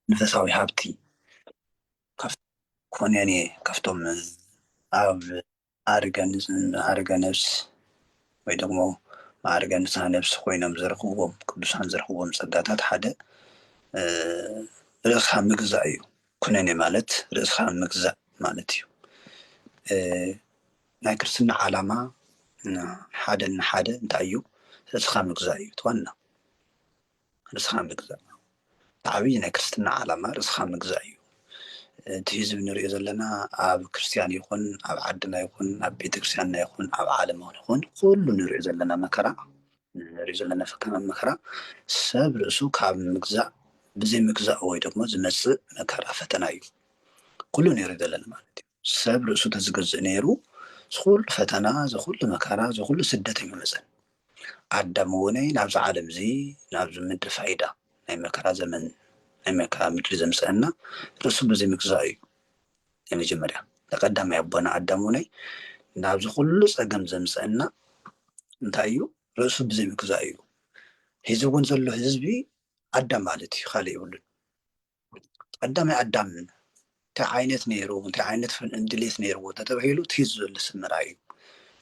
መንፈሳዊ ሃብቲ ኮንያን እየ ካብቶም ኣብ ማዕርገ ማዕርገ ነብስ ወይ ደሞ ማዕርገ ንስሃ ነብስ ኮይኖም ዝረኽብዎም ቅዱሳን ዝረኽብዎም ጸጋታት ሓደ ርእስኻ ምግዛእ እዩ። ኩነኔ ማለት ርእስኻ ምግዛእ ማለት እዩ። ናይ ክርስትና ዓላማ ንሓደ ንሓደ እንታይ እዩ ርእስኻ ምግዛእ እዩ እቲ ዋና ርእስኻ ምግዛእ እቲ ዓብዪ ናይ ክርስትና ዓላማ ርእስኻ ምግዛእ እዩ እቲ ህዝቢ ንሪኦ ዘለና ኣብ ክርስትያን ይኹን ኣብ ዓድና ይኹን ኣብ ቤተክርስትያንና ይኹን ኣብ ዓለም ይኹን ኩሉ ንሪኦ ዘለና መከራ ንሪኦ ዘለና ፈተና መከራ ሰብ ርእሱ ካብ ምግዛእ ብዘይ ምግዛእ ወይ ደግሞ ዝመፅእ መከራ ፈተና እዩ ኩሉ ንሪኦ ዘለና ማለት እዩ ሰብ ርእሱ ተዝገዝእ ነይሩ ዝኹሉ ፈተና ዝኹሉ መከራ ዝኹሉ ስደት ኣይምመጸን ኣዳም እውነይ ናብዚ ዓለም እዚ ናብዚ ምድሪ ፋይዳ ናይ መከራ ዘመን ናይ መከራ ምድሪ ዘምጸእና ርእሱ ብዘይምግዛኡ እዩ ናይ መጀመርያ ተቀዳማይ ኣቦና ኣዳም እውነይ ናብዚ ኩሉ ጸገም ዘምጸእና እንታይ እዩ ርእሱ ብዘይምግዛኡ እዩ ሒዚ እውን ዘሎ ህዝቢ ኣዳም ማለት እዩ ካልእ የብሉን ቀዳማይ ኣዳም እንታይ ዓይነት ነይሩ እንታይ ዓይነት ድሌት ነይርዎ ተተባሂሉ እቲ ህዝቢ ዘሎ ሰብ ምርኣይ እዩ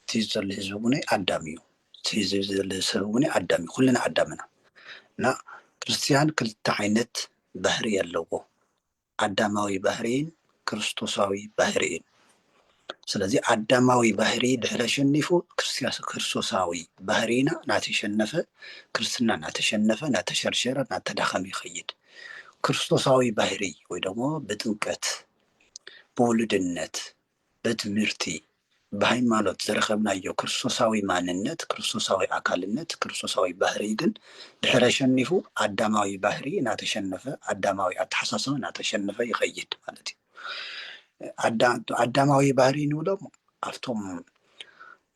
እቲ ህዝቢ ዘሎ ህዝቢ እውን ኣዳም እዩ እቲ ህዝቢ ዘሎ ሰብ እውን ኣዳም እዩ ኩልና ኣዳም ኢና እና ክርስትያን ክልተ ዓይነት ባህሪ ኣለዎ ኣዳማዊ ባህሪን ክርስቶሳዊ ባህሪን ስለዚ ኣዳማዊ ባህሪ ድሕሪ ኣሸኒፉ ክርስቶሳዊ ባህሪና እናተሸነፈ ክርስትና እናተሸነፈ እናተሸርሸረ እናተዳኸመ ይኸይድ። ክርስቶሳዊ ባህሪ ወይ ደግሞ ብጥምቀት ብውሉድነት በትምህርቲ ብሃይማኖት ዘረኸብናዮ ክርስቶሳዊ ማንነት ክርስቶሳዊ ኣካልነት ክርስቶሳዊ ባህሪ ግን ድሕረ ሸኒፉ ኣዳማዊ ባህሪ እናተሸነፈ ኣዳማዊ ኣተሓሳስባ እናተሸነፈ ይኸይድ ማለት እዩ። ኣዳማዊ ባህሪ ንብሎም ኣብቶም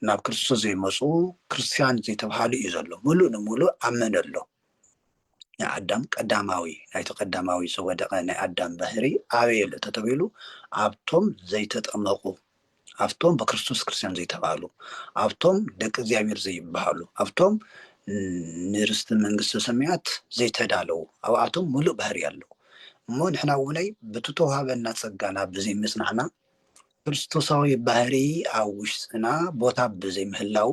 ናብ ክርስቶስ ዘይመፁ ክርስትያን ዘይተባሃሉ እዩ ዘሎ ሙሉእ ንሙሉእ ኣብ መን ኣሎ ናይ ኣዳም ቀዳማዊ ናይቲ ቀዳማዊ ዝወደቐ ናይ ኣዳም ባህሪ ኣበየ ኣሎ ተተብሂሉ ኣብቶም ዘይተጠመቑ ኣብቶም ብክርስቶስ ክርስትያን ዘይተባህሉ፣ ኣብቶም ደቂ እግዚኣብሔር ዘይበሃሉ፣ ኣብቶም ንርስቲ መንግስተ ሰማያት ዘይተዳለዉ፣ ኣብኣቶም ምሉእ ባህርይ ኣለዉ። እሞ ንሕና እውነይ በቲ ተውሃበና ጸጋና ብዘይ ምጽናዕና፣ ክርስቶሳዊ ባህርይ ኣብ ውሽጥና ቦታ ብዘይ ምህላዉ፣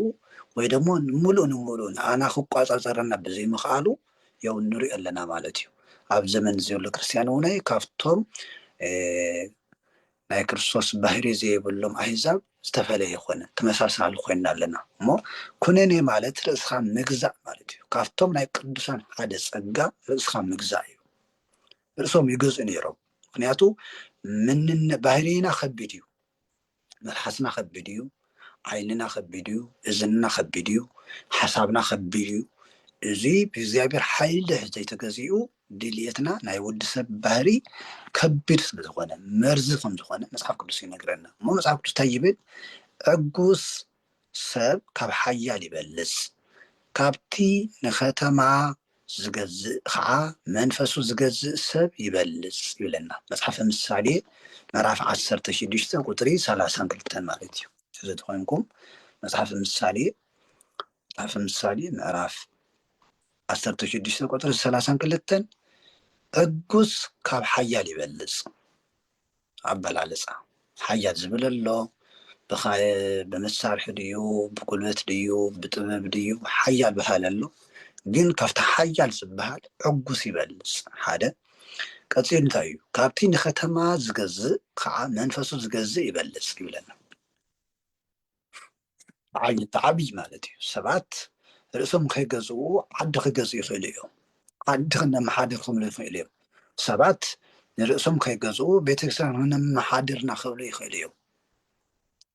ወይ ደሞ ምሉእ ንምሉእ ንኣና ክቋጻጸረና ብዘይ ምኽኣሉ ያው ንሪኦ ኣለና ማለት እዩ። ኣብ ዘመን ዘሎ ክርስትያን እውነይ ካብቶም ናይ ክርስቶስ ባህርይ ዘይብሎም ኣህዛብ ዝተፈለየ ኮነ፣ ተመሳሳሊ ኮይና ኣለና እሞ ኩነኔ ማለት ርእስኻ ምግዛእ ማለት እዩ። ካብቶም ናይ ቅዱሳን ሓደ ጸጋ ርእስኻ ምግዛእ እዩ። ርእሶም ይገዝኡ ነይሮም ምክንያቱ ምንነ ባህርይና ከቢድ እዩ። መልሓስና ከቢድ እዩ። ዓይንና ከቢድ እዩ። እዝንና ከቢድ እዩ። ሓሳብና ከቢድ እዩ። እዚ ብእግዚኣብሔር ሓይሊ ዘይተገዚኡ ድልየትና ናይ ወዲ ሰብ ባህሪ ከቢድ ስለ ዝኾነ መርዚ ከም ዝኾነ መጽሓፍ ቅዱስ ይነግረና እሞ መጽሓፍ ቅዱስ እንታይ ይብል ዕጉስ ሰብ ካብ ሓያል ይበልጽ ካብቲ ንከተማ ዝገዝእ ከዓ መንፈሱ ዝገዝእ ሰብ ይበልጽ ይብለና መጽሓፈ ምሳሌ ምዕራፍ ዓሰርተ ሽዱሽተ ቁጥሪ ሰላሳን ክልተን ማለት እዩ እዚ ተኮይንኩም መጽሓፈ ምሳሌ መጽሓፈ ምሳሌ ምዕራፍ ዓሰርተ ሽዱሽተ ቁጽሪ ሰላሳን ክልተን ዕጉስ ካብ ሓያል ይበልጽ ኣበላልጻ ሓያል ዝብል ኣሎ ብመሳርሒ ድዩ ብጉልበት ድዩ ብጥበብ ድዩ ሓያል በሃል ኣሎ ግን ካብቲ ሓያል ዝበሃል ዕጉስ ይበልጽ ሓደ ቀፂሉ እንታይ እዩ ካብቲ ንከተማ ዝገዝእ ከዓ መንፈሱ ዝገዝእ ይበልጽ ይብለና ብዓይኒ ብዓብዪ ማለት እዩ ሰባት ርእሶም ከይገዝኡ ዓዲ ክገዝኡ ይኽእሉ እዮም ዓዲ ክነመሓድር ክብሉ ይኽእሉ እዮም ሰባት ንርእሶም ከይገዝኡ ቤተክርስትያን ክነመሓድርና ክብሉ ይኽእሉ እዮም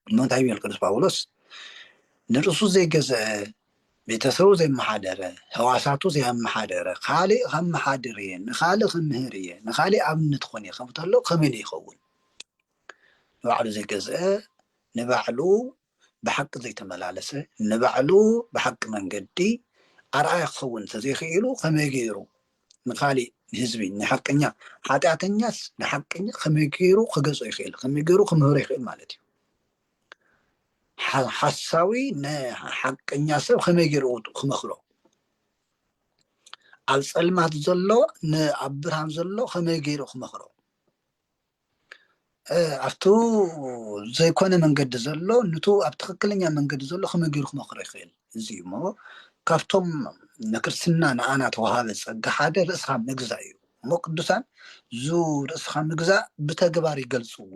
እሞ እንታይ ይብል ቅዱስ ጳውሎስ ንርእሱ ዘይገዘአ ቤተሰቡ ዘይመሓደረ ህዋሳቱ ዘየመሓደረ ካሊእ ከመሓድር እየ ንካሊእ ክምህር እየ ንካሊእ ኣብነት ኾን እየ ከምተሎ ከመይ ይኸውን ንባዕሉ ዘይገዝአ ንባዕሉ ብሓቂ ዘይተመላለሰ ንባዕሉ ብሓቂ መንገዲ ኣርኣያ ክኸውን እንተዘይክኢሉ ከመይ ገይሩ ንካሊእ ንህዝቢ ንሓቀኛ ሓጢኣተኛስ ንሓቀኛ ከመይ ገይሩ ክገዝኦ ይኽእል ከመይ ገይሩ ክምህሮ ይኽእል ማለት እዩ ሓሳዊ ንሓቀኛ ሰብ ከመይ ገይሩ ክመክሮ ኣብ ፀልማት ዘሎ ንኣብ ብርሃን ዘሎ ከመይ ገይሩ ክመክሮ ኣብቱ ዘይኮነ መንገዲ ዘሎ ንቱ ኣብ ትክክለኛ መንገዲ ዘሎ ከመይ ገይሩ ክመክሮ ይክእል እዚ እዩ እሞ ካብቶም ንክርስትና ንኣና ተዋሃበ ፀጋ ሓደ ርእስካ ምግዛእ እዩ እሞ ቅዱሳን ዙ ርእስካ ምግዛእ ብተግባር ይገልፅዎ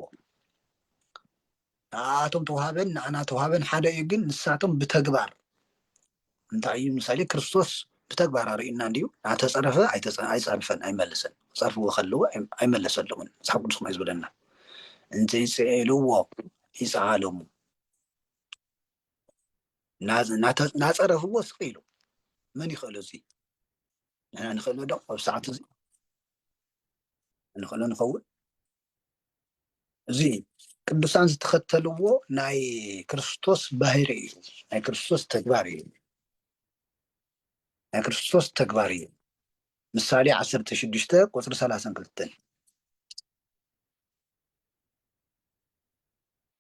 ንኣኣቶም ተውሃበን ንኣና ተውሃበን ሓደ እዩ ግን ንሳቶም ብተግባር እንታይ እዩ ምሳሌ ክርስቶስ ብተግባር ኣርእዩና እንዲዩ ናተፀረፈ ኣይፀርፈን ኣይመለሰን ፀርፍዎ ከለዎ ኣይመለሰለምን መፅሓፍ ቅዱስ ከማይ ዝብለና እንተይፅኤልዎ ይፀዓለሙ ናፀረፍዎ ስቅ ኢሉ መን ይኽእሎ እዚ ንሕና ንኽእሎ ዶ ኣብ ሰዓት እዚ ንኽእሎ ንኸውን እዚ ቅዱሳን ዝተኸተልዎ ናይ ክርስቶስ ባህሪ እዩ ናይ ክርስቶስ ተግባር እዩ ናይ ክርስቶስ ተግባር እዩ ምሳሌ ዓሰርተ ሽዱሽተ ቁፅሪ ሰላሳን ክልተን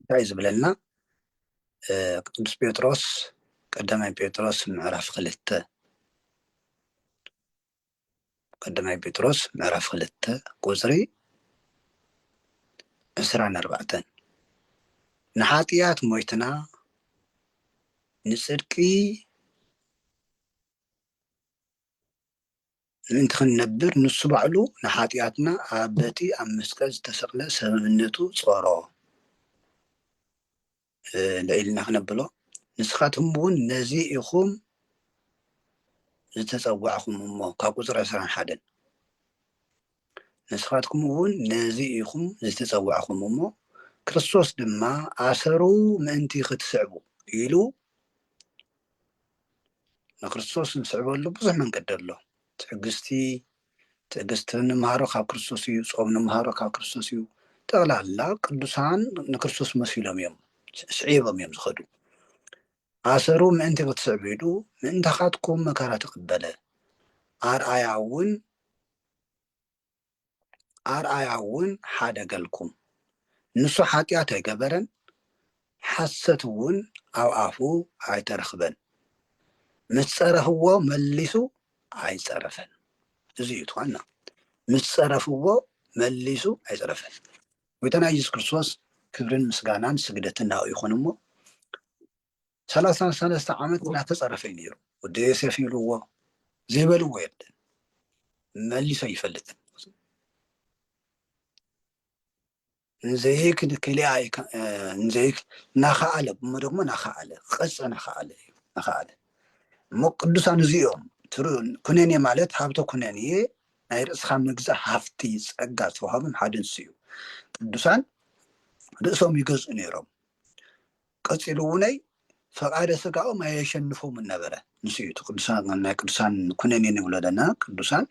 እንታይ ዝብለና ቅዱስ ጴጥሮስ ቀዳማይ ጴጥሮስ ምዕራፍ ክልተ ቀዳማይ ጴጥሮስ ምዕራፍ ክልተ ቁፅሪ ዕስራን ኣርባዕተን ንሓጢኣት ሞይትና ንፅድቂ ምእንቲ ክንነብር ንሱ ባዕሉ ንሓጢኣትና ኣብ በቲ ኣብ መስቀል ዝተሰቕለ ሰብእነቱ ጾሮ። ልዒልና ክነብሎ ንስኻትኩም እውን ነዚ ኢኹም ዝተጸዋዕኹም እሞ ካብ ቁጽሪ ዕስራን ሓደን ንስኻትኩም እውን ነዚ ኢኹም ዝተጸዋዕኹም እሞ ክርስቶስ ድማ ኣሰሩ ምእንቲ ክትስዕቡ ኢሉ ንክርስቶስ ንስዕበሉ ብዙሕ መንገዲ ኣሎ ትዕግስቲ ትዕግስቲ ንመሃሮ ካብ ክርስቶስ እዩ ጾም ንመሃሮ ካብ ክርስቶስ እዩ ጠቕላላ ቅዱሳን ንክርስቶስ መሲሎም እዮም ስዒቦም እዮም ዝኸዱ ኣሰሩ ምእንቲ ክትስዕቡ ኢሉ ምእንታኻትኩም መከራ ተቐበለ ኣርኣያ እውን ኣርኣያ እውን ሓደ ገልኩም ንሱ ሓጢኣት ኣይገበረን ሓሰት እውን ኣብ ኣፉ ኣይተረኽበን ምስ ጸረፍዎ መሊሱ ኣይጸረፈን እዚ እዩ ትኳና ምስ ጸረፍዎ መሊሱ ኣይጸረፈን ጎይታና ኢየሱስ ክርስቶስ ክብርን ምስጋናን ስግደትን ናኡ ይኹን እሞ ሰላሳ ሰለስተ ዓመት እናተፀረፈ እዩ ነይሩ ወዲ ዮሴፍ ይብልዎ ዘይበልዎ የለን መሊሶ ይፈልጥን ንዘይክ ንክልያ ንዘይክ ናኸኣለ እሞ ደግሞ ናኸኣለ ክቐፀ ናኸኣለ እዩ ናኸኣለ እሞ ቅዱሳን እዚኦም ኩነኔ ማለት ሃብተ ኩነኔ ናይ ርእስኻ ምግዛእ ሃፍቲ ፀጋ ዝተዋሃቦም ሓደ ንሱ እዩ ቅዱሳን ርእሶም ይገዝኡ ነይሮም ቀጺሉ እውነይ ፈቃደ ስጋኦም ኣየሸንፎምን ነበረ ንሱ እዩ እቲ ቅዱሳን ናይ ቅዱሳን ኩነኔ ንብሎ ዘለና ቅዱሳን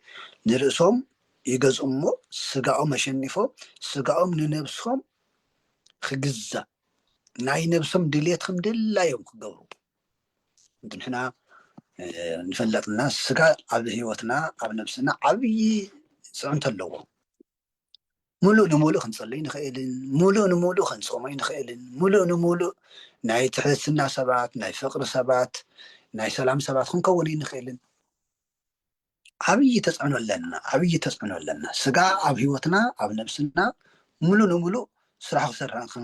ንርእሶም ይገዝኡ እሞ ስጋኦም ኣሸኒፎም ስጋኦም ንነብሶም ክግዛእ ናይ ነብሶም ድሌት ከም ድላዮም ክገብሩ ንሕና ንፈለጥና ስጋ ኣብ ህይወትና ኣብ ነብስና ዓብዪ ፅዕንቶ ኣለዎ ሙሉእ ንሙሉእ ክንፅልይ ንኽእልን ሙሉእ ንሙሉእ ክንፆምይ ንኽእልን ሙሉእ ንሙሉእ ናይ ትሕትና ሰባት ናይ ፍቅሪ ሰባት ናይ ሰላም ሰባት ክንከውን ኣይንኽእልን ዓብዪ ተፅዕኖ ኣለና ዓብዪ ተፅዕኖ ኣለና ስጋ ኣብ ሂወትና ኣብ ነብስና ሙሉእ ንሙሉእ ስራሕ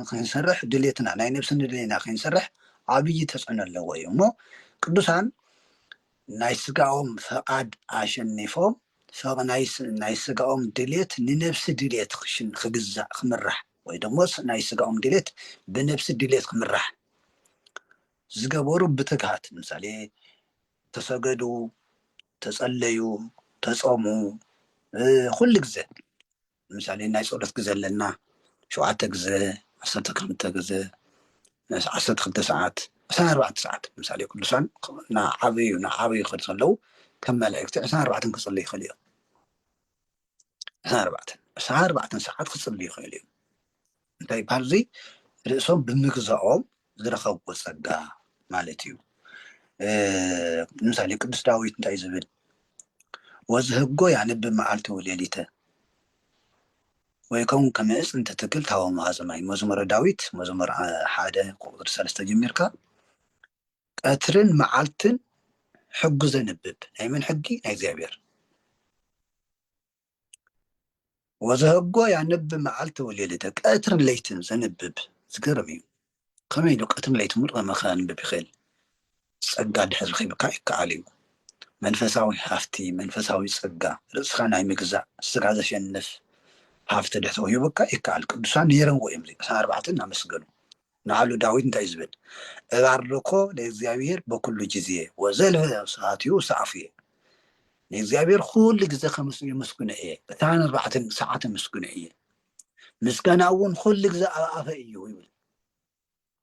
ክንሰርሕ ድሌትና ናይ ነብሲ ንድሌና ክንሰርሕ ዓብዪ ተፅዕኖ ኣለዎ እዩ እሞ ቅዱሳን ናይ ስጋኦም ፍቃድ ኣሸኒፎም ሰብ ናይ ስጋኦም ድሌት ንነብሲ ድሌት ክግዛእ ክምራሕ ወይ ደሞ ናይ ስጋኦም ድሌት ብነብሲ ድሌት ክምራሕ ዝገበሩ ብትግሃት ምሳሌ ተሰገዱ ተጸለዩ ተጾሙ ኩሉ ግዘ ንምሳሌ ናይ ፆሎት ግዘ ኣለና ሸውዓተ ግዘ ዓሰርተ ክልተ ግዘ ዓሰርተ ክልተ ሰዓት ዕስራን ኣርባዕተን ሰዓት ንምሳሌ ቅዱሳን እናዓበዩ እናዓበዩ ክኸዱ ከለው ከም መላእክቲ ዕስራን ኣርባዕተን ክፅልዩ ይኽእሉ እዮም ዕስራን ኣርባዕተን ዕስራን ኣርባዕተን ሰዓት ክፅልዩ ይኽእሉ እዮም እንታይ ይበሃል እዙይ ርእሶም ብምግዛኦም ዝረኸብዎ ጸጋ ማለት እዩ ንምሳሌ ቅዱስ ዳዊት እንታይ ዝብል ወዝህጎ ያንብ መዓልቲ ወሌሊተ ወይ ከውን ከመእፅ እንትትክል ታወ መሃዘማይ መዝሙረ ዳዊት መዝሙር ሓደ ቁጥሪ ሰለስተ ጀሚርካ ቀትርን መዓልትን ሕጉ ዘንብብ ናይ መን ሕጊ ናይ እግዚኣብሔር ወዘህጎ ያንብ መዓልቲ ወሌሊተ ቀትርን ለይትን ዘንብብ ዝገርም እዩ ከመይ ኢሉ ቀትርን ለይትን ሙሉእ ከንብብ ይኽእል ጸጋ ድሕር ኺብካ ይከኣል እዩ መንፈሳዊ ሃፍቲ መንፈሳዊ ጸጋ ርእስኻ ናይ ምግዛእ ስጋ ዘሸንፍ ሃፍቲ ድሕተው ይብካ ይከኣል ቅዱሳን ነይረዎ እዮም ዚቅሳ ኣርባዕተ እናመስገኑ ንኣሉ ዳዊት እንታይ እዩ ዝብል? እባርኮ ለእግዚኣብሔር በኵሉ ጊዜ ወዘልፈ ስብሐቲሁ ውስተ ኣፉየ፣ ንእግዚኣብሔር ዅሉ ግዜ ኸምስሉ የመስግኖ እየ፣ ዕስራን ኣርባዕተን ሰዓት የመስግኖ እየ፣ ምስጋናኡ እውን ዅሉ ግዜ ኣብ ኣፈይ እዩ ይብል።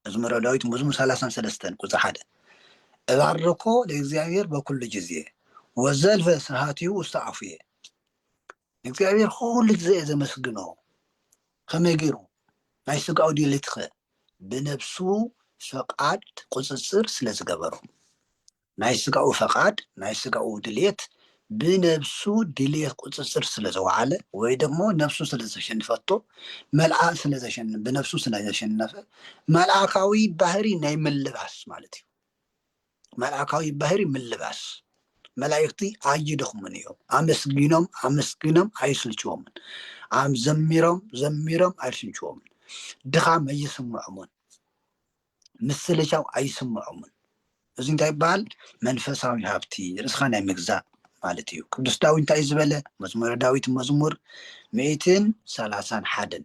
መዝሙረ ዳዊት መዝሙር ሰላሳን ሰለስተን ቁፅሪ ሓደ እባርኮ ለእግዚኣብሔር በኵሉ ጊዜ ወዘልፈ ስብሐቲሁ ውስተ ኣፉየ፣ እግዚኣብሔር ኩሉ ግዜ እየ ዘመስግኖ ከመይ ገይሩ ናይ ስጋኡ ድሌትኸ ብነብሱ ፈቃድ ቁፅፅር ስለ ዝገበሮ ናይ ስጋኡ ፈቃድ ናይ ስጋኡ ድሌት ብነብሱ ድሌት ቁፅፅር ስለ ዘወዓለ ወይ ደግሞ ነብሱ ስለ ዘሸንፈቶ መልኣ ስለ ዘሸን ብነብሱ ስለ ዘሸነፈ መልኣካዊ ባህሪ ናይ ምልባስ ማለት እዩ መልኣካዊ ባህሪ ምልባስ መላእኽቲ ኣይደኽሙን እዮም። ኣመስጊኖም ኣመስጊኖም ኣይስልችዎምን። ኣም ዘሚሮም ዘሚሮም ኣይስልችዎምን። ድኻም ኣይስምዖምን፣ ምስልቻው ኣይስምዖምን። እዚ እንታይ ይበሃል? መንፈሳዊ ሃብቲ ርእስኻ ናይ ምግዛእ ማለት እዩ። ቅዱስ ዳዊት እንታይ እዩ ዝበለ? መዝሙረ ዳዊት መዝሙር ሚእትን ሰላሳን ሓደን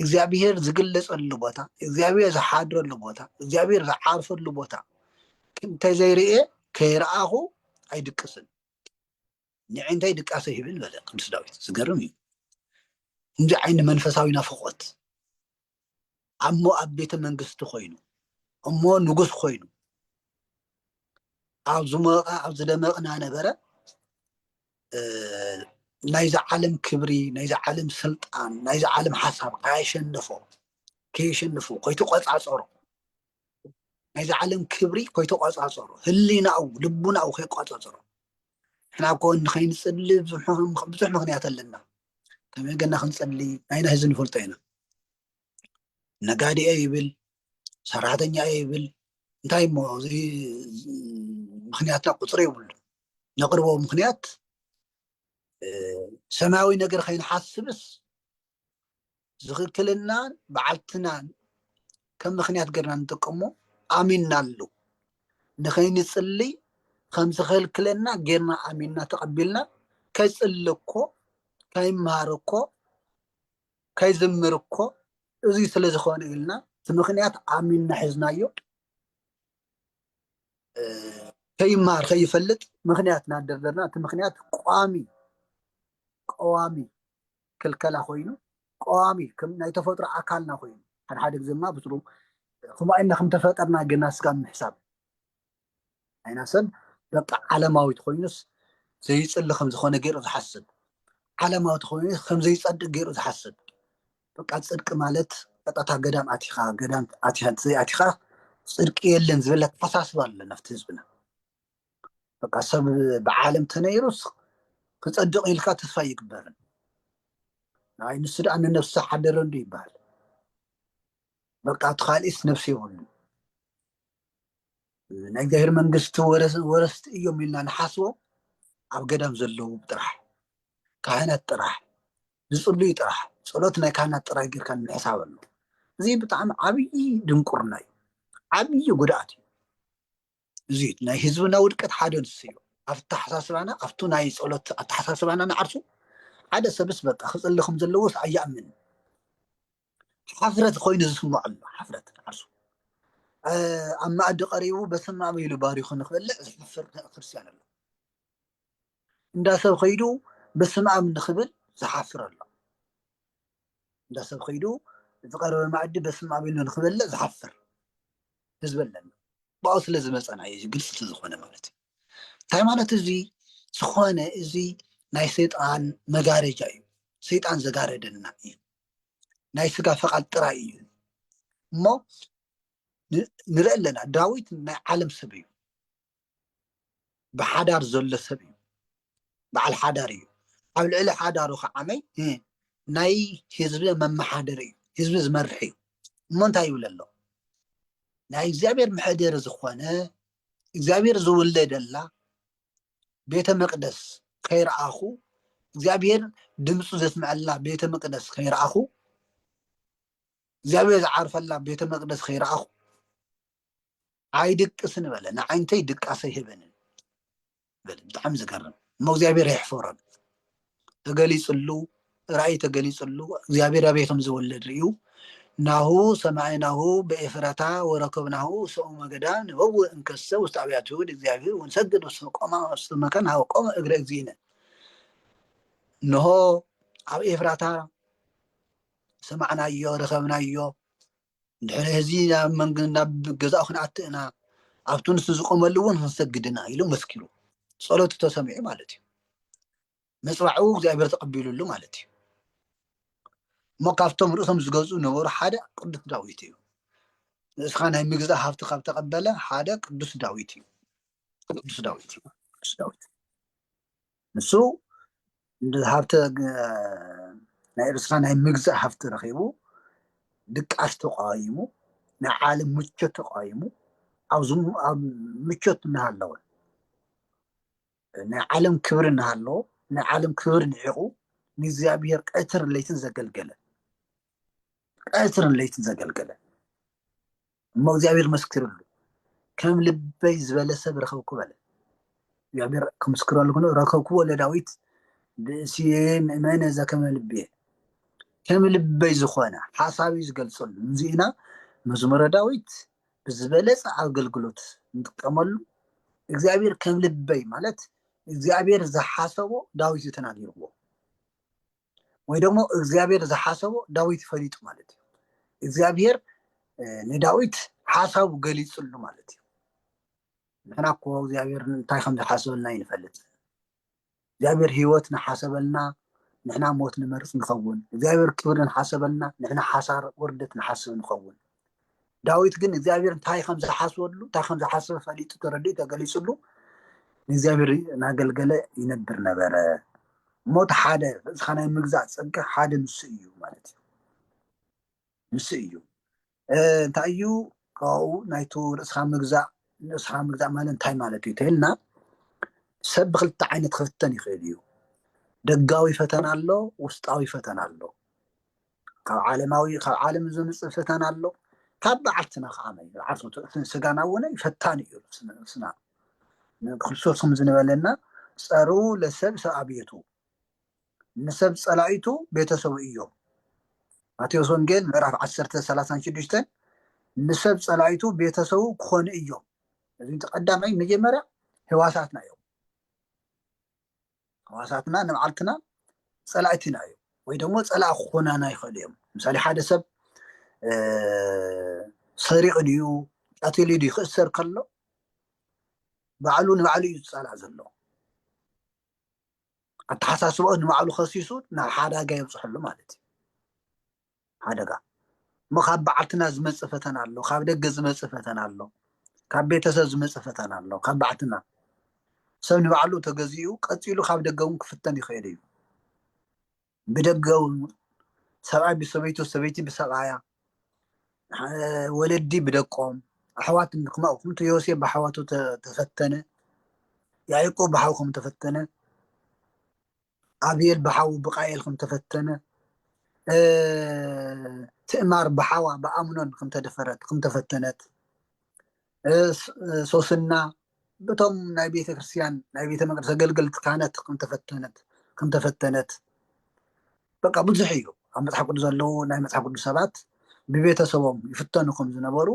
እግዚኣብሄር ዝግለጸሉ ቦታ፣ እግዚኣብሄር ዝሓድረሉ ቦታ፣ እግዚኣብሄር ዝዓርፈሉ ቦታ እንተዘይርእየ ከይረኣኹ ኣይድቅስን ንዕንተይ ድቃሰ ይብል በለ ቅዱስ ዳዊት። ዝገርም እዩ። እንዚ ዓይኒ መንፈሳዊ ናፍቆት ኣሞ ኣብ ቤተ መንግስቲ ኮይኑ እሞ ንጉስ ኮይኑ ኣብ ዝሞቐ ኣብ ዝደመቕና ነበረ ናይዚ ዓለም ክብሪ ናይዚ ዓለም ስልጣን ናይዚ ዓለም ሓሳብ ከየሸንፎ ከየሸንፎ ኮይተቆፃፀሮ ናይዚ ዓለም ክብሪ ኮይተቆፃፀሮ ህሊናኡ ልቡናኡ ከይቆፃፀሮ ንሕና እኮ ንከይንፅሊ ብዙሕ ምክንያት ኣለና ከመይ ገና ክንፅሊ ናይና ህዚ ንፈልጦ ኢና ነጋዲ እየ ይብል ሰራሕተኛ እየ ይብል እንታይ እሞ እዚ ምክንያት ቁፅሪ የብሉ ነቅርቦ ምክንያት ሰማያዊ ነገር ከይንሓስብስ ዝክክልና በዓልትናን ከም ምክንያት ገርና ንጥቀሞ ኣሚናሉ ንከይንፅልይ ከም ዝከልክለና ገርና ኣሚና ተቀቢልና ከይፅሊ እኮ ከይምሃር እኮ ከይዝምር እኮ እዚ ስለ ዝኾነ ኢልና እቲ ምክንያት ኣሚንና ሒዝናዮ ከይመሃር ከይፈልጥ ምክንያት እናደርደርና እቲ ምክንያት ቋሚ ቀዋሚ ክልከላ ኮይኑ ቀዋሚ ከም ናይ ተፈጥሮ ኣካልና ኮይኑ ሓድሓደ ግዜ ድማ ብስሩ ከምኡ ኢልና ከም ተፈጠርና ግና ስጋብ ምሕሳብ ናይና ሰብ በቃ ዓለማዊ ተኮይኑስ ዘይፅሊ ከም ዝኾነ ገይሩ ዝሓስብ ዓለማዊ ተኮይኑ ከም ዘይፀድቅ ገይሩ ዝሓስብ በቃ ፅድቂ ማለት ቀጣታ ገዳም ኣቲኻ ገዳም ኣቲኻ ዘይኣቲኻ ፅድቂ የለን ዝበለ ኣተሓሳስባ ኣሎ ናብቲ ህዝብና በቃ ሰብ ብዓለም ተነይሩስ ክፀድቕ ኢልካ ተስፋ ይግበርን ናይ ንሱ ደኣ ንነብሲ ሓደረንዱ ይበሃል በቃ እቲ ካልእስ ነብሲ የብሉ ናይ እግዚኣብሔር መንግስቲ ወረስቲ እዮም ኢልና ንሓስቦም ኣብ ገዳም ዘለዉ ጥራሕ ካህናት ጥራሕ ዝፅልዩ ጥራሕ ፀሎት ናይ ካህናት ጥራሕ ጌርካ ንምሕሳብ ኣሎ እዚ ብጣዕሚ ዓብዪ ድንቁርና እዩ ዓብዪ ጉድኣት እዩ እዚ ናይ ህዝብና ውድቀት ሓደ ንሱ እዩ ኣብ ኣተሓሳስባና ኣብቱ ናይ ፀሎት ኣተሓሳስባና ንዓርሱ ሓደ ሰብስ በቃ ክፅሊ ከም ዘለዎስ ኣይኣምን ሓፍረት ኮይኑ ዝስምዖ ኣሎ ሓፍረት ንዓርሱ ኣብ መኣዲ ቀሪቡ በስመ ኣብ ኢሉ ባሪኹ ንክበልዕ ዝሓፍር ክርስትያን ኣሎ እንዳ ሰብ ከይዱ በስመ ኣብ ንክብል ዝሓፍር ኣሎ እንዳ ሰብ ከይዱ ዝቀረበ መኣዲ በስመ ኣብ ኢሉ ንክበልዕ ዝሓፍር ህዝቢ ኣለና ብኣኡ ስለ ዝመፀና እዩ ግልፂ ስለዝኮነ ማለት እዩ እንታይ ማለት እዚ ዝኾነ እዚ ናይ ሰይጣን መጋረጃ እዩ ሰይጣን ዘጋረደና እዩ ናይ ስጋ ፈቓድ ጥራይ እዩ እሞ ንርኢ ኣለና ዳዊት ናይ ዓለም ሰብ እዩ ብሓዳር ዘሎ ሰብ እዩ በዓል ሓዳር እዩ ኣብ ልዕሊ ሓዳሩ ከዓመይ ናይ ህዝቢ መመሓደሪ እዩ ህዝቢ ዝመርሕ እዩ እሞ እንታይ ይብል ኣሎ ናይ እግዚኣብሔር መሕደሪ ዝኾነ እግዚኣብሔር ዝውለደላ ቤተ መቅደስ ከይረኣኹ እግዚኣብሔር ድምፁ ዘስምዐላ ቤተ መቅደስ ከይረኣኹ እግዚኣብሔር ዝዓርፈላ ቤተ መቅደስ ከይረኣኹ ኣይድቅስን በለ ንዓይንተይ ድቃሰ ይህበንን በለ ብጣዕሚ ዝገርም እሞ እግዚኣብሔር ኣይሕፈሮን ተገሊጽሉ ራእይ ተገሊጽሉ እግዚኣብሔር ኣበይ ከም ዝወለድ ርእዩ ናሁ ሰማዕናሁ በኤፍራታ ወረከብናሁ ሰኡ መገዳ ንበው እንከሰ ውስጥ አብያተ ይሁድ እግዚአብሔር ወንሰግድ ውስተ ቆማ ውስተ መካን ሀበ ቆመ እግረ እግዚእነ እነሆ ኣብ ኤፍራታ ሰማዕናዮ ረከብናዮ ድሕሪ ህዚ ናብ መንግ ናብ ገዛኡ ክንኣቲ እና ኣብቲ ንሱ ዝቆመሉ እውን ክንሰግድ ኢና ኢሉ መስኪሩ ጸሎቱ ተሰሚዑ ማለት እዩ መፅባዕኡ እግዚኣብሔር ተቐቢሉሉ ማለት እዩ እሞ ካብቶም ርእሶም ዝገዝኡ ነበሩ ሓደ ቅዱስ ዳዊት እዩ ንእስኻ ናይ ምግዛእ ሃብቲ ካብ ተቐበለ ሓደ ቅዱስ ዳዊት እዩ ቅዱስ ዳዊት እዩ ቅዱስ ዳዊት ንሱ ሃብቲ ናይ ኤርትራ ናይ ምግዛእ ሃፍቲ ረኺቡ ድቃስ ተቋይሙ ናይ ዓለም ምቾት ተቋይሙ ኣብ ምቾት እናሃለወ ናይ ዓለም ክብሪ እናሃለዎ ናይ ዓለም ክብሪ ንዒቑ ንእግዚኣብሔር ቀትርን ለይትን ዘገልገለ ቀትርን ለይትን ዘገልገለ እሞ እግዚኣብሔር መስክርሉ ከም ልበይ ዝበለ ሰብ ረኸብኩ በለ። እግዚኣብሔር ክምስክረሉ ክኖ ረከብክዎ ለዳዊት ብእስየ ምእመነ ዘከመ ልብየ ከም ልበይ ዝኾነ ሓሳቢ ዝገልጸሉ እዚእና መዝሙረ ዳዊት ብዝበለጸ ኣገልግሎት ንጥቀመሉ እግዚኣብሔር ከም ልበይ ማለት እግዚኣብሔር ዝሓሰቦ ዳዊት እዩ ተናጊርዎ። ወይ ደግሞ እግዚኣብሔር ዝሓሰቦ ዳዊት ፈሊጡ ማለት እዩ እግዚኣብሔር ንዳዊት ሓሳቡ ገሊፅሉ ማለት እዩ ንሕና እኮ እግዚኣብሔር እንታይ ከም ዝሓሰበልና ይንፈልጥ እግዚኣብሔር ህይወት ንሓሰበልና ንሕና ሞት ንመርፅ ንኸውን እግዚኣብሔር ክብሪ ንሓሰበልና ንሕና ሓሳር ውርደት ንሓስብ ንኸውን ዳዊት ግን እግዚኣብሔር እንታይ ከም ዝሓስበሉ እንታይ ከም ዝሓስበ ፈሊጡ ተረዲኡ ተገሊፅሉ ንእግዚኣብሔር እናገልገለ ይነብር ነበረ እሞ እቲ ሓደ እዚካ ናይ ምግዛእ ፀጋ ሓደ ንሱ እዩ ማለት እዩ ንሱ እዩ እንታይ እዩ ካብኡ ናይቱ ርእስካ ምግዛእ ንርእስካ ምግዛእ ማለት እንታይ ማለት እዩ ተልና ሰብ ብክልተ ዓይነት ክፍተን ይኽእል እዩ ደጋዊ ፈተና ኣሎ ውስጣዊ ፈተና ኣሎ ካብ ዓለማዊ ካብ ዓለም ዝምፅእ ፈተና ኣሎ ካብ በዓልትና ከዓ ዓርሶት እቲ ስጋና እውን ፈታን እዩ ስና ክርስቶስ ከም ዝበለና ፀሩ ለሰብ ሰብ ኣብየቱ ንሰብ ፀላኢቱ ቤተሰቡ እዮም ማቴዎስ ወንጌል ምዕራፍ 10 36 ንሰብ ፀላኢቱ ቤተሰቡ ክኾኑ እዮም እዚ ተቀዳማይ መጀመርያ ህዋሳትና እዮም ሕዋሳትና ንባዕልትና ፀላእቲና እዮም ወይ ደግሞ ፀላእ ክኾናና ይኽእሉ እዮም ምሳሌ ሓደ ሰብ ሰሪቑ ድዩ ቀቲሉ ድዩ ክእሰር ከሎ ባዕሉ ንባዕሉ እዩ ዝፀላእ ዘሎ ኣተሓሳስባኡ ንባዕሉ ከሲሱ ናብ ሓዳጋ የብፅሐሉ ማለት እዩ ሓደጋ እሞ ካብ ባዓልትና ዝመጽእ ፈተና ኣሎ ካብ ደገ ዝመጽእ ፈተና ኣሎ ካብ ቤተሰብ ዝመጽእ ፈተና ኣሎ ካብ ባዓልትና ሰብ ንባዕሉ ተገዚኡ ቀጺሉ ካብ ደገ እውን ክፍተን ይኽእል እዩ ብደገ እውን ሰብኣይ ብሰበይቱ ሰበይቲ ብሰብኣያ ወለዲ ብደቆም ኣሕዋት ክማኡ ከምቲ ዮሴፍ ብሓዋቱ ተፈተነ ያዕቆብ ብሓው ከም ተፈተነ ኣብየል ብሓዉ ብቃኤል ከም ተፈተነ ትእማር ብሓዋ ብኣምኖን ከም ተደፈረት ከም ተፈተነት ሶስና በቶም ናይ ቤተ ክርስትያን ናይ ቤተ መቅደስ ኣገልገልቲ ካህናት ከም ተፈተነት ከም ተፈተነት በቃ ብዙሕ እዩ ኣብ መፅሓፍ ቅዱስ ዘለዉ ናይ መፅሓፍ ቅዱስ ሰባት ብቤተሰቦም ይፍተኑ ከም ዝነበሩ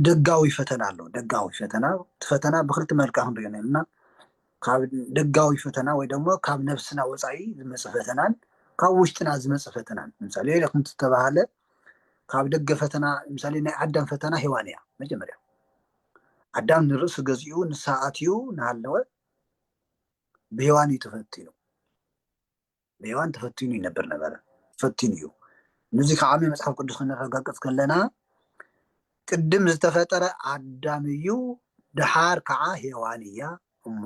ደጋዊ ፈተና ኣሎ ደጋዊ ፈተና እቲ ፈተና ብክልቲ መልክዕ ክንሪኦ ነልና ካብ ደጋዊ ፈተና ወይ ደሞ ካብ ነብስና ወጻኢ ዝመጽእ ፈተናን ካብ ውሽጥና ዝመጽእ ፈተናን ምሳሌ ከምቲ ዝተባህለ ካብ ደገ ፈተና ምሳሌ ናይ ኣዳም ፈተና ሔዋን እያ መጀመርያ ኣዳም ንርእሱ ገዚኡ ንሳ ኣትዩ እናሃለወ ብሔዋን እዩ ተፈቲኑ ብሔዋን ተፈቲኑ ይነብር ነበረ ፈቲኑ እዩ ንዚ ከዓ መጽሓፍ ቅዱስ ከነረጋግጽ ከለና ቅድም ዝተፈጠረ ኣዳም እዩ ድሓር ከዓ ሔዋን እያ እሞ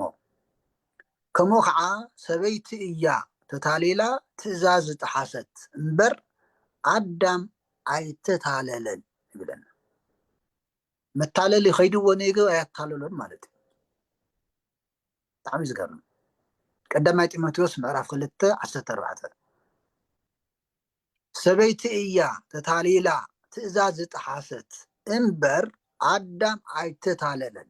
ከምኡ ከዓ ሰበይቲ እያ ተታሊላ ትእዛዝ ዝጠሓሰት እምበር ኣዳም ኣይተታለለን ይብለና መታለሊ ከይድዎ ነይገብ ኣያታለሎን ማለት እዩ ብጣዕሚ ዝገርም ቀዳማይ ጢሞቴዎስ ምዕራፍ ክልተ ዓሰርተ ኣርባዕተ ሰበይቲ እያ ተታሊላ ትእዛዝ ዝጠሓሰት እምበር ኣዳም ኣይተታለለን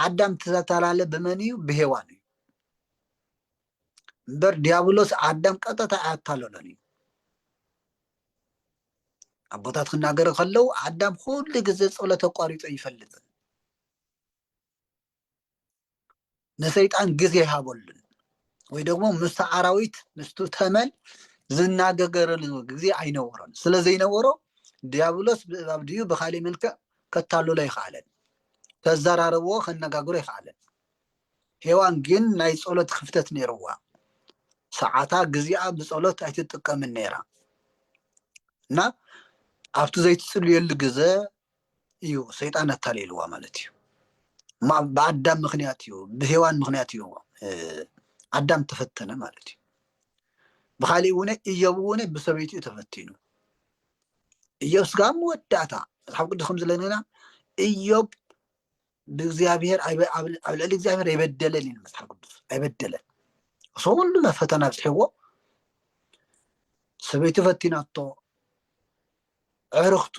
ኣዳም ተተላለ ብመን እዩ ብሄዋን እዩ እምበር ዲያብሎስ ኣዳም ቀጥታ ኣያታለሎን እዩ ኣቦታት ክናገሩ ከለው ኣዳም ኩሉ ግዜ ጸሎት ኣቋሪጾ ኣይፈልጥን ንሰይጣን ግዜ ይሃበሉን ወይ ደግሞ ምስ ኣራዊት ምስቱ ተመን ዝናገገረሉ ግዜ ኣይነበሮን ስለ ዘይነበሮ ዲያብሎስ ብእባብ ድዩ ብካሊእ መልክዕ ከታልሎ ኣይከኣለን ከዘራርብዎ ከነጋግሮ ኣይከኣለን ሄዋን ግን ናይ ጸሎት ኽፍተት ነይርዋ ሰዓታ ግዚኣ ብጸሎት ኣይትጥቀምን ነይራ እና ኣብቲ ዘይትጽልየሉ ግዘ እዩ ሰይጣን ኣታሊልዋ ማለት እዩ ብኣዳም ምክንያት እዩ ብሄዋን ምክንያት እዩ ኣዳም ተፈተነ ማለት እዩ ብካሊእ እውነ እዮብ እውነ ብሰበይቱ እዩ ተፈቲኑ እዮብ ስጋ መወዳእታ መፅሓፍ ቅዱስ ከም ዝለነና እዮብ ንእግዚኣብሔር ኣይበ- ኣብ ኣብ ልዕሊ እግዚኣብሔር ኣይበደለን ይብል መጽሓፍ ቅዱስ ኣይበደለን እሱ ኩሉ ናብ ፈተና ኣብፅሕዎ ሰበይቱ ፈቲናቶ ዕርኽቱ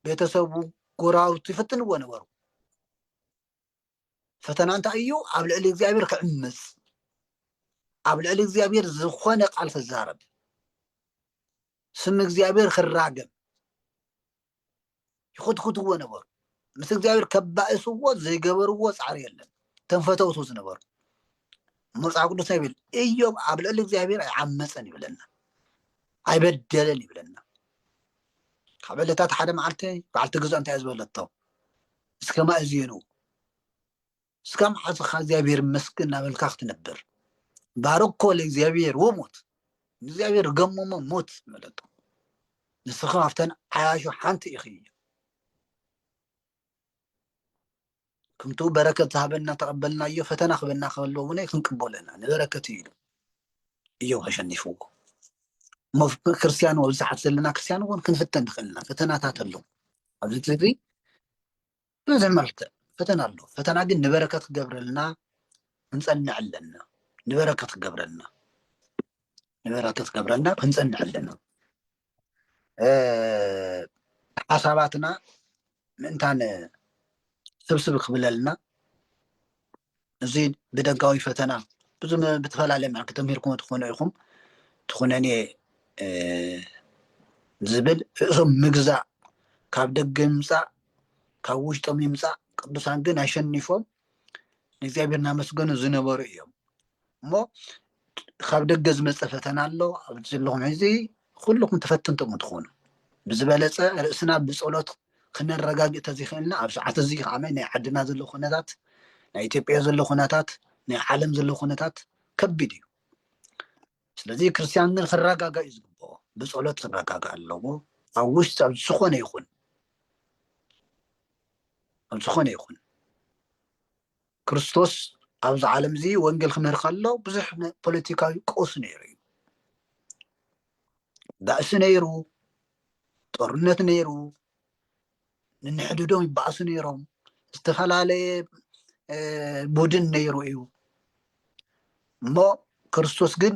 ቤተሰቡ ጎራሩቱ ይፈትንዎ ነበሩ ፈተና እንታይ እዩ ኣብ ልዕሊ እግዚኣብሔር ክዕምፅ ኣብ ልዕሊ እግዚኣብሔር ዝኾነ ቃል ክዛረብ ስም እግዚኣብሔር ክራገም ይኹትኹትዎ ነበሩ ምስ እግዚኣብሔር ከባእስዎ ዘይገበርዎ ፃዕሪ የለን እቶም ፈተውቱ ዝነበሩ መፅሓፍ ቅዱስ ይብል እዮም ኣብ ልዕሊ እግዚኣብሔር ኣይዓመፀን ይብለና ኣይበደለን ይብለና ካብ ዕለታት ሓደ መዓልቲ በዓልቲ ግዛእ እንታይ ዝበለቶ እስከ ማእዝኑ እስካ መሓዝካ እግዚኣብሔር ይመስገን እናበልካ ክትነብር ባረኮ ለእግዚኣብሔር ወሞት ንእግዚኣብሔር ገሞሞ ሞት መለቶ ንስኻ ካብተን ዓያሹ ሓንቲ ኢኺ ከምቲ በረከት ዝሃበና ተቐበልናዮ ፈተና ክበና ከሎ እውን ክንቅበሎ ኢና ንበረከት እዩ ኢሉ እዮ ከሸኒፍዎ እሞ ክርስትያን ኣብዝሓት ዘለና ክርስትያን እውን ክንፍተን ንኽእልና ፈተናታት ኣሎ ኣብዚ ብብዙሕ መልክዕ ፈተና ኣሎ ፈተና ግን ንበረከት ክገብረልና ክንጸንዕ ኣለና ንበረከት ክገብረልና ንበረከት ክገብረልና ክንጸንዕ ኣለና ሓሳባትና ምእንታን ስብስብ ክብለልና እዚ ብደጋዊ ፈተና ብዝተፈላለየ መልክዕ ተምሂርኩሞ ትኾኑ ኢኹም ትኹነኔ ዝብል ርእሶም ምግዛእ ካብ ደገ ምምፃእ ካብ ውሽጦም ይምፃእ ቅዱሳን ግን ኣሸኒፎም ንእግዚኣብሔር እናመስገኑ ዝነበሩ እዮም እሞ ካብ ደገ ዝመፀ ፈተና ኣሎ ኣብዚ ዘለኹም ሕዚ ኩልኹም ተፈተንቶ ምትኾኑ ብዝበለፀ ርእስና ብፀሎት ክነረጋግእ ተዘይክእልና ኣብ ሰዓት እዚ ከዓ ናይ ዓድና ዘሎ ኩነታት ናይ ኢትዮጵያ ዘሎ ኩነታት ናይ ዓለም ዘሎ ኩነታት ከቢድ እዩ ስለዚ ክርስትያን ግን ክረጋጋ እዩ ዝግብኦ ብፀሎት ክረጋጋ ኣለዎ ኣብ ውሽጢ ኣብ ዝኾነ ይኹን ኣብ ዝኾነ ይኹን ክርስቶስ ኣብዚ ዓለም እዚ ወንጌል ክምህር ከሎ ብዙሕ ፖለቲካዊ ቀውሲ ነይሩ እዩ። ባእሲ ነይሩ፣ ጦርነት ነይሩ፣ ንንሕድዶም ይባእሱ ነይሮም፣ ዝተፈላለየ ቡድን ነይሩ እዩ እሞ ክርስቶስ ግን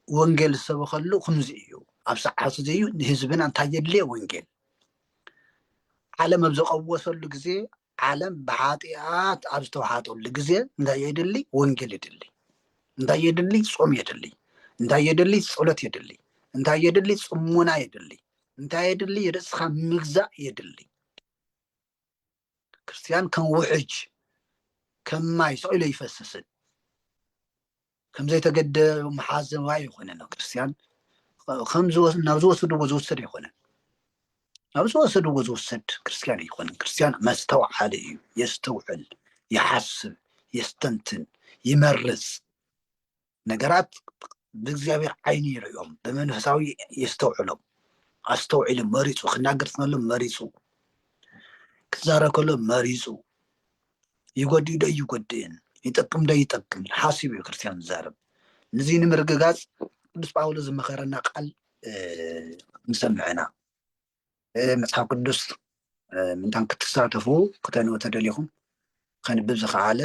ወንጌል ዝሰበኸሉ ከምዚ እዩ ኣብ ሰዓት እዚ እዩ ንህዝብና እንታይ የድልየ ወንጌል ዓለም ኣብ ዝቐወሰሉ ግዜ ዓለም ብኃጢኣት ኣብ ዝተውሓጠሉ ጊዜ እንታይ የድሊ? ወንጌል የድሊ። እንታይ የድሊ? ጾም የድሊ። እንታይ የድሊ? ጸሎት የድሊ። እንታይ የድሊ? ጽሙና የድሊ። እንታይ የድሊ? ርእስኻ ምግዛእ የድሊ። ክርስትያን ከም ውሕጅ ከም ማይ ሰቂሎ ይፈስስን ከም ዘይተገደ መሓዘዋ ኣይኮነን ኣብ ክርስትያን ናብ ዝወሰድዎ ዝውሰድ ኣይኮነን ናብ ዝወሰድዎ ዝውሰድ ክርስትያን ኣይኮነን ክርስትያን መስተውዓሊ እዩ የስተውዕል ይሓስብ የስተንትን ይመርፅ ነገራት ብእግዚኣብሔር ዓይኒ ይርእዮም ብመንፈሳዊ የስተውዕሎም ኣስተውዒሉ መሪፁ ክናገር ከሎ መሪፁ ክዛረብ ከሎ መሪፁ ይጎድእ ዶ ኣይጎድእን፣ ይጠቅም ዶ ኣይጠቅምን ሓሲቡ እዩ ክርስትያን ዝዛረብ። ንዙይ ንምርግጋፅ ቅዱስ ጳውሎስ ዝመኸረና ቃል ንሰምዕ ኢና። መፅሓፍ ቅዱስ ምንታን ክትሳተፉ ክተንኡ ተደሊኹም ከንብብ ዝኸዓለ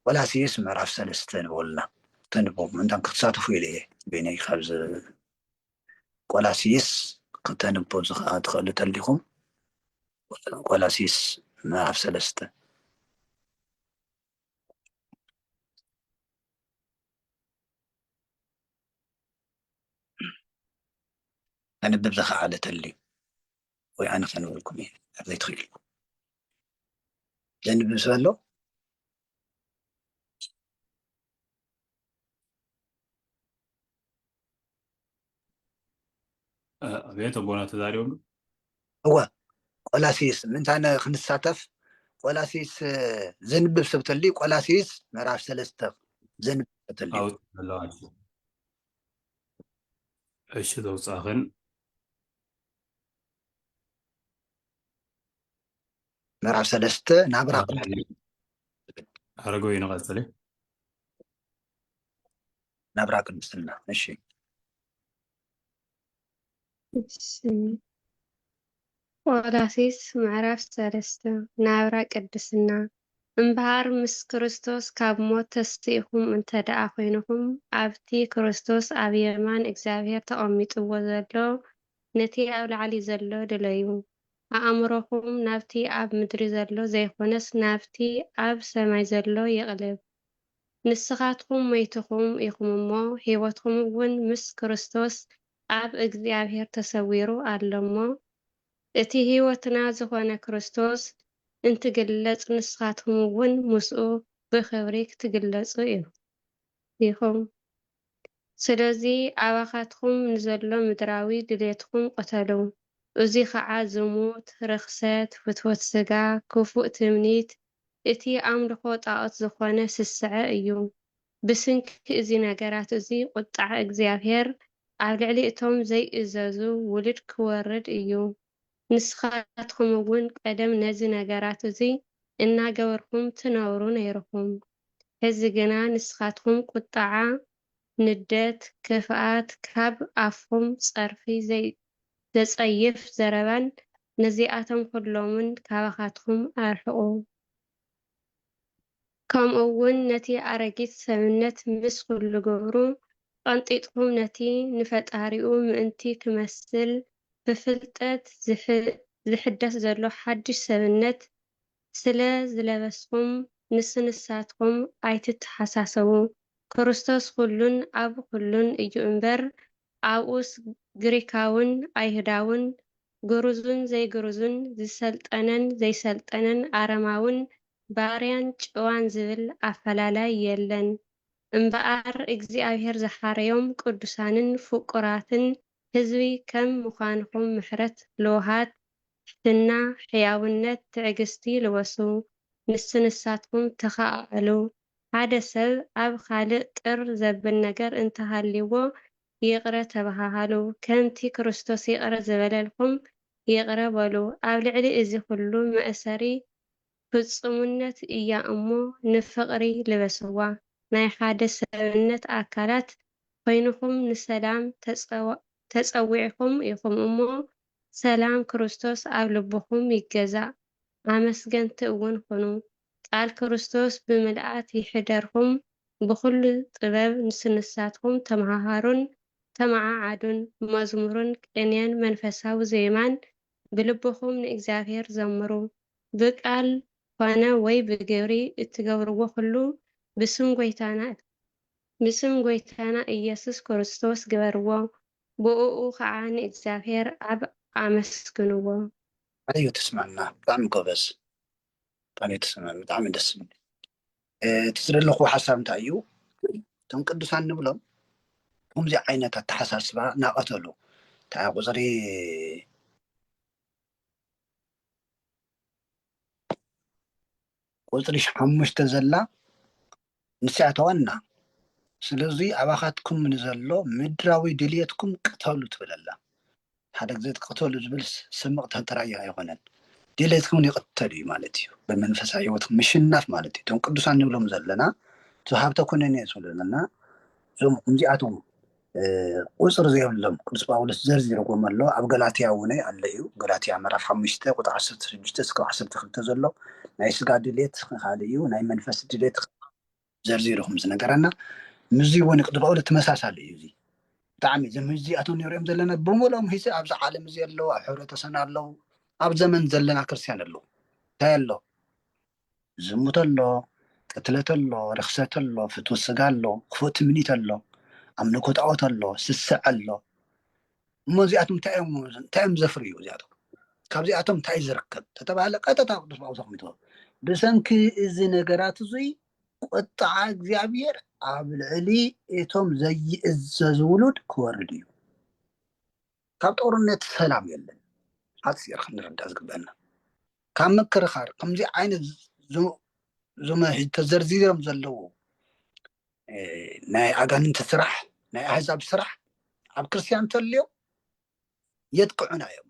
ቆላሲስ ምዕራፍ ሰለስተ ንበሉና ተንቡ ምንታን ክትሳተፉ ኢለ እየ በይነይ ካብዚ ቆላስይስ ክተንብቡ ትኽእሉ ተልኹም ቆላስይስ ምዕራፍ ሰለስተ ኣንብብ ዝኸዓለ ተልዩ ወይ ኣነ ከንብበልኩም እየ ኣብ ዘይትኽእልኩም ዘንብብ ስለ ኣሎ ኣቤት ኣቦና ተዛሪቦም እወ ቆላሲስ ምንታነ ክንሳተፍ ቆላሲስ ዘንብብ ሰብ ተሊ ቆላሲስ ምዕራፍ ሰለስተ ዘንብብ ሰብ ተሊ እሺ ዘውፃኽን ምዕራፍ ሰለስተ ናብራ ኣረገው ይንቀፅል ናብራ ቅድስና እሺ ቆላሲስ ምዕራፍ ሰለስተ ናብራ ቅድስና እምበሃር ምስ ክርስቶስ ካብ ሞት ተስኢኹም እንተ ደኣ ዀይንኹም ኣብቲ ክርስቶስ ኣብ የማን እግዚኣብሄር ተቐሚጥዎ ዘሎ ነቲ ኣብ ላዕሊ ዘሎ ድለዩ። ኣኣምሮኹም ናብቲ ኣብ ምድሪ ዘሎ ዘይኮነስ ናብቲ ኣብ ሰማይ ዘሎ ይቕልብ። ንስኻትኩም ሞይትኩም ኢኹም እሞ ሕይወትኩምውን ምስ ክርስቶስ ኣብ እግዚኣብሔር ተሰዊሩ ኣሎ እሞ እቲ ሕይወትና ዝኾነ ክርስቶስ እንትግለጽ ንስኻትኩምውን ምስኡ ብኽብሪ ክትግለጹ ኢኹም። ስለዚ ኣባኻትኩም ንዘሎ ምድራዊ ድሌትኩም ቅተሉ፣ እዙይ ኸዓ ዝሙት፣ ርኽሰት፣ ፍትወት ሥጋ፣ ክፉእ ትምኒት፣ እቲ ኣምልኾ ጣዖት ዝኾነ ስስዐ እዩ። ብስንኪ እዙ ነገራት እዙይ ቁጥዓ እግዚኣብሔር ኣብ ልዕሊ እቶም ዘይእዘዙ ውሉድ ክወርድ እዩ። ንስኻትኩም እውን ቀደም ነዚ ነገራት እዙይ እናገበርኩም ትነብሩ ነይርኹም፣ ሕዚ ግና ንስኻትኩም ቍጥዓ፣ ንደት፣ ክፍኣት፣ ካብ ኣፍኩም ጸርፊ፣ ዘጸይፍ ዘረባን ነዚኣቶም ዅሎምን ካባኻትኩም ኣርሕቑ። ከምኡ ውን ነቲ ኣረጊት ሰብነት ምስ ኹሉ ግብሩ ቐንጢጥኩም ነቲ ንፈጣሪኡ ምእንቲ ክመስል ብፍልጠት ዝሕደስ ዘሎ ሓድሽ ሰብነት ስለ ዝለበስኹም ምስ ንሳትኩም ኣይትተሓሳሰቡ ክርስቶስ ኹሉን ኣብ ኹሉን እዩ እምበር ኣብኡስ ግሪካውን ኣይሁዳውን፣ ግሩዙን ዘይግሩዙን፣ ዝሰልጠነን ዘይሰልጠነን፣ ኣረማውን ባርያን ጭዋን ዝብል ኣፈላላይ የለን። እምበኣር እግዚኣብሄር ዝሓረዮም ቅዱሳንን ፍቁራትን ህዝቢ ከም ምዃንኹም ምሕረት ልውሃት፣ ትሕትና፣ ሕያውነት፣ ትዕግስቲ ልበሱ። ንሱ ንሳትኩም ተኸኣኣሉ። ሓደ ሰብ ኣብ ኻልእ ቅር ዘብል ነገር እንተ ሃልይዎ ይቕረ ተበሃሃሉ፣ ከምቲ ክርስቶስ ይቕረ ዝበለልኩም ይቕረ በሉ። ኣብ ልዕሊ እዚ ኹሉ መእሰሪ ፍጹምነት እያ እሞ ንፍቕሪ ልበስዋ። ናይ ሓደ ሰብነት ኣካላት ኾይንኹም ንሰላም ተጸዊዕኩም ኢኹም እሞ ሰላም ክርስቶስ ኣብ ልብኹም ይገዛእ፣ ኣመስገንቲ እውን ኹኑ፣ ቃል ክርስቶስ ብምልኣት ይሕደርኩም፣ ብኹሉ ጥበብ ንስንሳትኩም ተመሃሃሩን ተመዓዓዱን፣ መዝሙርን ቅኔን መንፈሳዊ ዜማን ብልብኹም ንእግዚኣብሔር ዘምሩ። ብቃል ኾነ ወይ ብግብሪ እትገብርዎ ኹሉ ብስም ጐይታና ብስም ጐይታና ኢየሱስ ክርስቶስ ግበርዎ፣ ብኡኡ ከኣ ንእግዚኣብሔር ኣብ ኣመስግንዎ። ታይ እዩ ትስምዕና ብጣዕሚ ጎበዝ ቃል እዩ ትስምዕ ብጣዕሚ ደስ ዝብል እዩ እቲ ዝደለኩዎ ሓሳብ እንታይ እዩ እቶም ቅዱሳን ንብሎም ከምዚ ዓይነት ኣተሓሳስባ ናቀተሉ እንታይ ቁፅሪ ቁፅሪ ሓሙሽተ ዘላ ንስያ ተዋና ስለዙይ ኣባኻትኩም ንዘሎ ምድራዊ ድልየትኩም ቅተሉ ትብለላ ሓደ ግዜ ቅተሉ ዝብል ስምቕ ተንተራዮ ኣይኾነን ድልየትኩም ይቕተል እዩ ማለት እዩ ብመንፈሳዊ ህይወትኩም ምሽናፍ ማለት እዩ እቶም ቅዱሳን ንብሎም ዘለና ዝሃብተ ኩነኔ ዝብሉ ዘለና እዞም እዚኣቶም ቁፅሪ ዘይብሎም ቅዱስ ጳውሎስ ዘርዚርዎም ኣሎ ኣብ ገላትያ እውን ኣሎ እዩ ገላትያ ምዕራፍ ሓሙሽተ ቁጥሪ ዓሰርተ ሽዱሽተ እስካብ ዓሰርተ ክልተ ዘሎ ናይ ስጋ ድሌት ካልእ እዩ ናይ መንፈስ ድሌት ዘርዚሩ ከም ዝነገረና ምስዚ እውን ቅዱስ ጳውሎስ ተመሳሳሊ እዩ እዚ ብጣዕሚ እዞም እዚኣቶም ንሪኦም ዘለና ብምሎም ሂዚ ኣብዚ ዓለም እዚ ኣለዉ ኣብ ሕብረተሰብና ኣለዉ ኣብ ዘመን ዘለና ክርስትያን ኣለዉ እንታይ ኣሎ ዝሙት ኣሎ፣ ቅትለት ኣሎ፣ ርኽሰት ኣሎ፣ ፍትወት ስጋ ኣሎ፣ ክፉእ ትምኒት ኣሎ፣ ኣምልኮ ጣኦት ኣሎ፣ ስስዐ ኣሎ። እሞ እዚኣቶም እንታይ እዮም እንታይ እዮም ዘፍርዩ እዚኣቶም? ካብዚኣቶም እንታይ ዝርከብ ተተባህለ ቀጥታ ቅዱስ ጳውሎስ ኣቕሚጥዎ ብሰንኪ እዚ ነገራት እዙይ ቁጥዓ እግዚኣብሔር ኣብ ልዕሊ እቶም ዘይእዘዙ ውሉድ ክወርድ እዩ። ካብ ጦርነት ሰላም የለን ሓፂር ክንርዳ ዝግበአና ካብ ምክርኻር ከምዚ ዓይነት ዞመ ተዘርዚሮም ዘለዉ ናይ ኣጋንንቲ ስራሕ ናይ ኣህዛብ ስራሕ ኣብ ክርስትያን ተልዮ የጥቅዑና እዮም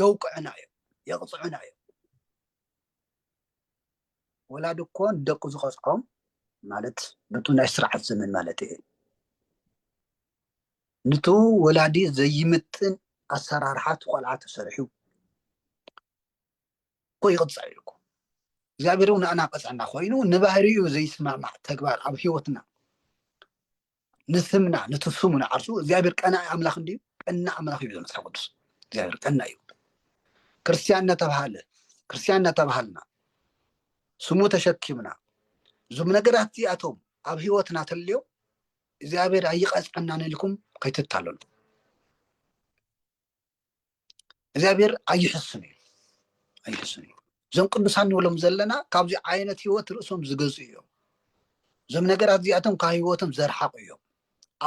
የውቅዑና እዮም የቕፅዑና እዮም ወላድ እኮ ንደቁ ዝቐፅዖም ማለት ብቱ ናይ ስርዓት ዘመን ማለት እየ ንቱ ወላዲ ዘይምጥን ኣሰራርሓ እቲ ቆልዓ ተሰሪሑ እኮ ይቕፃዕ እዩ እኮ እግዚኣብሔር እውን ንኣና ቀፅዐና ኮይኑ ንባህሪኡ ዘይስማዕማዕ ተግባር ኣብ ህይወትና ንስምና ነቲ ስሙ ንዓርሱ እግዚኣብሔር ቀናኢ ኣምላኽ እንድዩ ቀና ኣምላኽ እዩ መፅሓፍ ቅዱስ እግዚኣብሔር ቀና እዩ ክርስትያን እናተባሃለ ክርስትያን እናተባሃልና ስሙ ተሸኪምና እዞም ነገራት እዚኣቶም ኣብ ህይወትና ተልዮም እግዚኣብሔር ኣይቀፅዐናን ኢልኩም ከይትታለሉ እግዚኣብሔር ኣይሕስን እዩ ኣይሕስን እዩ እዞም ቅዱሳን ንብሎም ዘለና ካብዚ ዓይነት ህይወት ርእሶም ዝገዙ እዮም እዞም ነገራት እዚኣቶም ካብ ህይወቶም ዘርሓቁ እዮም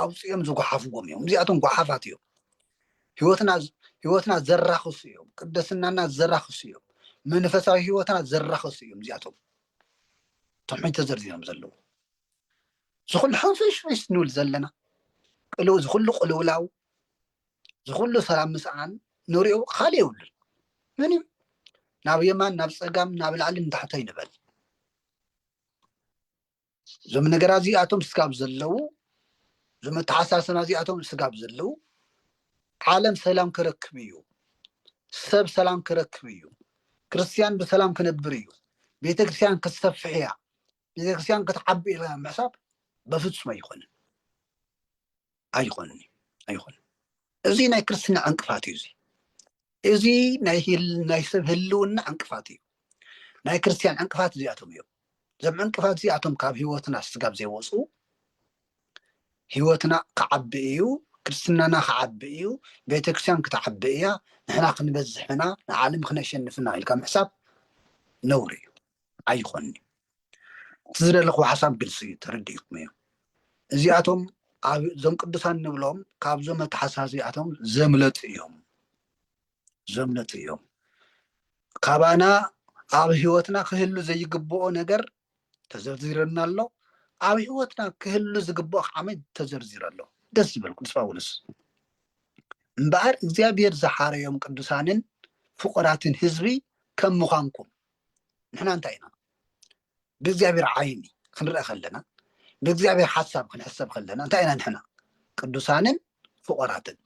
ኣውፅኦም ዝጓሓፍዎም እዮም እዚኣቶም ጓሓፋት እዮም ህይወትና ህይወትና ዘራኽሱ እዮም ቅደስናና ዘራኽሱ እዮም መንፈሳዊ ህይወትና ዘራኽሱ እዮም እዚኣቶም ተምሕኝ ተዘርዚሮም ዘለዉ ዝኹሉ ሕንፍሽፍሽ ንብል ዘለና ቅልው ዝኹሉ ቅልውላው ዝኹሉ ሰላም ምስኣን ንሪኦ ካልእ የብሉን ምን እዩ ናብ የማን ናብ ፀጋም ናብ ላዕሊ ንታሕቶ ይንበል እዞም ነገራ እዚኣቶም ስጋብ ዘለዉ እዞም ኣተሓሳሰና እዚኣቶም ስጋብ ዘለዉ ዓለም ሰላም ክረክብ እዩ ሰብ ሰላም ክረክብ እዩ ክርስትያን ብሰላም ክነብር እዩ ቤተክርስትያን ክትሰፍሕ እያ ቤተክርስትያን ክትዓቢ ኢልካ ምሕሳብ በፍጹም ኣይኮንን ኣይኮንን ኣይኮንን እዚ ናይ ክርስትና ዕንቅፋት እዩ እዚ እዚ ናይ ሰብ ህልውና ዕንቅፋት እዩ ናይ ክርስትያን ዕንቅፋት እዚኣቶም እዮም እዞም ዕንቅፋት እዚኣቶም ካብ ህይወትና ስጋብ ዘይወፁ ህይወትና ክዓቢ እዩ ክርስትናና ክዓቢ እዩ ቤተክርስትያን ክትዓቢ እያ ንሕና ክንበዝሕና ንዓለም ክነሸንፍና ኢልካ ምሕሳብ ነውሪ እዩ ኣይኾንዩ እቲ ዝደለኹ ሓሳብ ግልፂ እዩ ተረዲእኩም እዩ እዚኣቶም ኣብዞም ቅዱሳን ንብሎም ካብዞም ኣተሓሳዚኣቶም ዘምለጡ እዮም ዘምለጡ እዮም ካባና ኣብ ሂወትና ክህሉ ዘይግብኦ ነገር ተዘርዚረና ኣሎ ኣብ ሂወትና ክህሉ ዝግብኦ ከዓመ ተዘርዚረ ኣሎ ደስ ዝበል ቅዱስ ጳውሎስ እምበኣር እግዚኣብሔር ዝሓረዮም ቅዱሳንን ፍቁራትን ህዝቢ ከም ምዃንኩም ንሕና እንታይ ኢና ብእግዚኣብሔር ዓይኒ ክንርአ ከለና ብእግዚኣብሔር ሓሳብ ክንሕሰብ ከለና እንታይ ኢና ንሕና ቅዱሳንን ፍቆራትን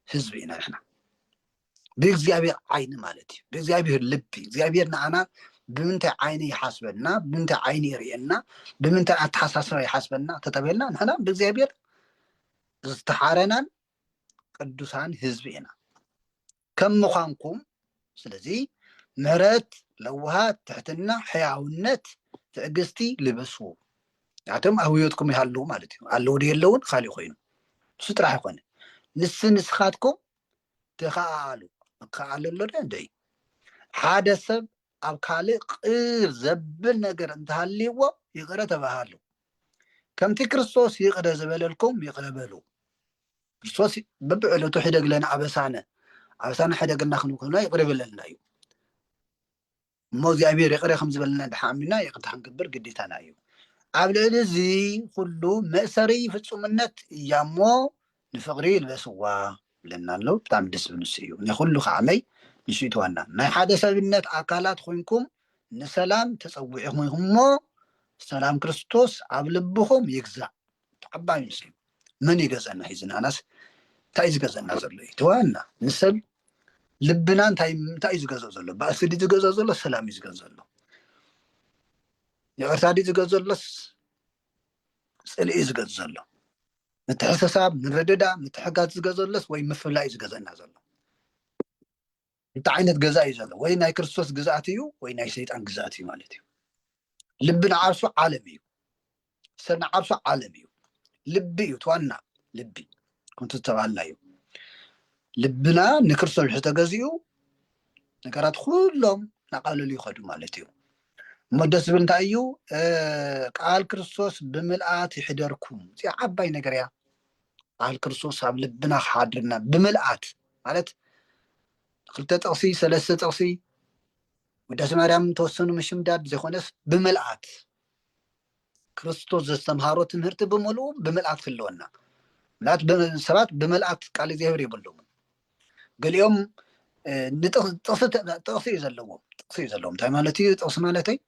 ህዝቢ ኢና ንሕና ብእግዚኣብሔር ዓይኒ ማለት እዩ ብእግዚኣብሔር ልቢ እግዚኣብሔር ንኣና ብምንታይ ዓይኒ ይሓስበና ብምንታይ ዓይኒ ይርእየና ብምንታይ ኣተሓሳስባ ይሓስበና ተተበልና ንሕና ብእግዚኣብሔር ዝተሓረናን ቅዱሳን ህዝቢ ኢና ከም ምዃንኩም ስለዚ ምሕረት ለውሃት ትሕትና ሕያውነት ትዕግስቲ ልበሱ ናቶም ኣብ ህይወትኩም ይሃለዉ ማለት እዩ ኣለዉ ዶ የለውን ካሊእ ኮይኑ ንሱ ጥራሕ ይኮነ ንስ ንስኻትኩም ተኸኣኣሉ ክከኣለሎ ዶ እንደ ሓደ ሰብ ኣብ ካልእ ቕር ዘብል ነገር እንተ ሃልይዎ ይቕረ ተባሃሉ፣ ከምቲ ክርስቶስ ይቕረ ዝበለልኩም ይቕረ በሉ። ክርስቶስ በብዕለቱ ሕደግ ለነ ኣበሳነ፣ ኣበሳነ ሕደግልና ክንብለና ይቕረ ይበለልና እዩ። እሞ እግዚኣብሔር ይቕረ ከም ዝበለና ድሓ ኣሚና ይቕርታ ክንገብር ግዴታና እዩ። ኣብ ልዕሊ እዚ ኩሉ መእሰሪ ፍጹምነት እያ እሞ ንፍቅሪ ይልበስዋ ይብለና ኣሎ ብጣዕሚ ደስ ዝብል ንሱ እዩ ናይ ኩሉ ከዓመይ ንሱ እዩ እቲ ዋና ናይ ሓደ ሰብነት ኣካላት ኮይንኩም ንሰላም ተጸዊዕኹም ኢኹም እሞ ሰላም ክርስቶስ ኣብ ልብኹም ይግዛእ ተዓባይ ንሱ እዩ መን እዩ ገዘና ሒዙ ንኣናስ እንታይ እዩ ዝገዘና ዘሎ እዩ እቲ ዋና ንሰብ ልብና እንታይ እንታይ እዩ ዝገዝኦ ዘሎ ባእሲ ድዩ ዝገዝኦ ዘሎ ሰላም እዩ ዝገዝኦ ዘሎ ይቅርታ ድዩ ዝገዝኦ ዘሎስ ጽልኢ እዩ ዝገዝኦ ዘሎ ምትሕሰሳብ ምርድዳ ምትሕጋዝ ዝገዘለስ ወይ ምፍላይ እዩ ዝገዘና ዘሎ እንታይ ዓይነት ገዛ እዩ ዘሎ ወይ ናይ ክርስቶስ ግዝኣት እዩ ወይ ናይ ሰይጣን ግዝኣት እዩ ማለት እዩ ልቢ ንዓርሱ ዓለም እዩ ሰብ ንዓርሱ ዓለም እዩ ልቢ እዩ ትዋና ልቢ ከምቲ ዝተባሃልና እዩ ልብና ንክርስቶስ ዝተገዚኡ ነገራት ኩሎም ናቃለሉ ይኸዱ ማለት እዩ እሞ ደስ ዝብል እንታይ እዩ ቃል ክርስቶስ ብምልኣት ይሕደርኩም እዚ ዓባይ ነገር እያ ቃል ክርስቶስ ኣብ ልብና ክሓድርና ብምልኣት ማለት ክልተ ጥቕሲ ሰለስተ ጥቕሲ ውዳሴ ማርያም ተወሰኑ ምሽምዳድ ዘይኮነስ ብምልኣት ክርስቶስ ዘስተምሃሮ ትምህርቲ ብምልኡ ብምልኣት ክህልወና ምክንያቱ ሰባት ብምልኣት ቃል እግዚኣብሔር የብሎምን ገሊኦም ጥቕሲ እዩ ዘለዎም ጥቕሲ እዩ ዘለዎም እንታይ ማለት እዩ ጥቕሲ ማለተይ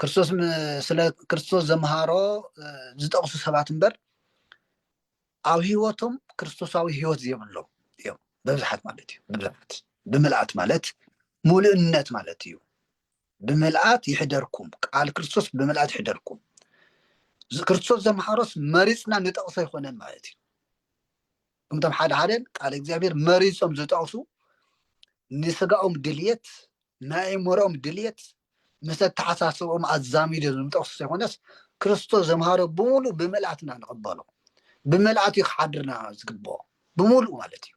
ክርስቶስ ስለ ክርስቶስ ዘምሃሮ ዝጠቕሱ ሰባት እምበር ኣብ ህይወቶም ክርስቶሳዊ ህይወት ዘይብሎም እዮም ብብዝሓት ማለት እዩ ብብዝሓት ብምልኣት ማለት ሙሉእነት ማለት እዩ ብምልኣት ይሕደርኩም ቃል ክርስቶስ ብምልኣት ይሕደርኩም ክርስቶስ ዘምሓሮስ መሪፅና ንጠቕሶ ኣይኮነን ማለት እዩ እምቶም ሓደ ሓደ ቃል እግዚኣብሔር መሪፆም ዝጠቕሱ ንስጋኦም ድልየት ናይ ኣእምሮኦም ድልየት ምስ ኣተሓሳስቦኦም ኣዛሚዶ ዝምጠቕሱ ዘይኮነስ ክርስቶስ ዘምሃሮ ብምሉእ ብምልኣትና ንቕበሎ ብምልኣት እዩ ክሓድርና ዝግብኦ ብምሉእ ማለት እዩ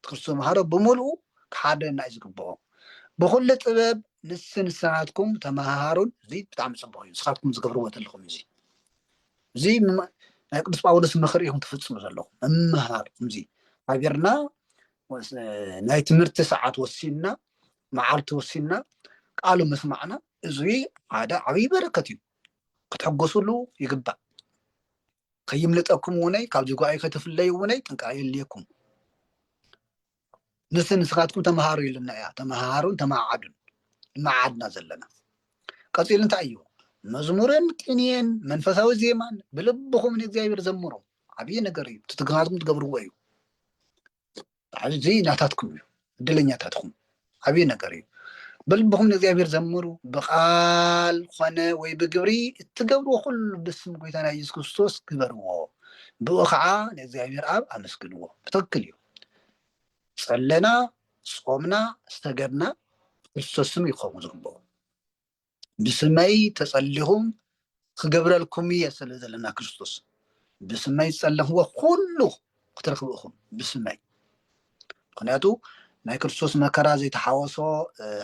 ቅርሲ ተምሃሮ ብምሉኡ ክሓደና እዩ ዝግብኦ ብኩሉ ጥበብ ንስ ንሳትኩም ተመሃሃሩን እዚ ብጣዕሚ ጽቡቅ እዩ ንስካትኩም ዝገብርዎ ዘለኹም እዚ እዚ ናይ ቅዱስ ጳውሎስ ምክሪ ኢኹም ትፍጽሙ ዘለኹም ምምሃር እዚ ሃገርና ናይ ትምህርቲ ሰዓት ወሲንና መዓልቲ ወሲንና ቃሉ ምስማዕና እዚ ሓደ ዓብይ በረከት እዩ ክትሕጎስሉ ይግባእ ከይምልጠኩም ውነይ ካብዚ ጓይ ከትፍለዩ ውነይ ጥንቃ የልየኩም ንስ ንስኻትኩም ተምሃሩ ኢሉና እያ ተምሃሩን ተማዓዱን መዓድና ዘለና ቀፂሉ እንታይ እዩ መዝሙርን ቅንየን መንፈሳዊ ዜማን ብልብኹም ንእግዚኣብሔር ዘምሩ ዓብዪ ነገር እዩ ትትግናትኩም ትገብርዎ እዩ ኣብዚ ናታትኩም እዩ እድለኛታት ኹም ዓብዪ ነገር እዩ በልብኹም ንእግዚኣብሔር ዘምሩ ብቃል ኾነ ወይ ብግብሪ እትገብርዎ ኩሉ ብስም ጎይታና ኢየሱስ ክርስቶስ ግበርዎ ብኡ ከዓ ንእግዚኣብሔር ኣብ ኣመስግንዎ ብትክክል እዩ ጸለና ጾምና ዝተገድና ክርስቶስ ስም ይኸውን ዝግብኦ ብስመይ ተጸሊኹም ክገብረልኩም እየ ስለ ዘለና ክርስቶስ ብስመይ ዝጸለኽዎ ኩሉ ክትረክቡ ኢኹም ብስመይ ምክንያቱ ናይ ክርስቶስ መከራ ዘይተሓወሶ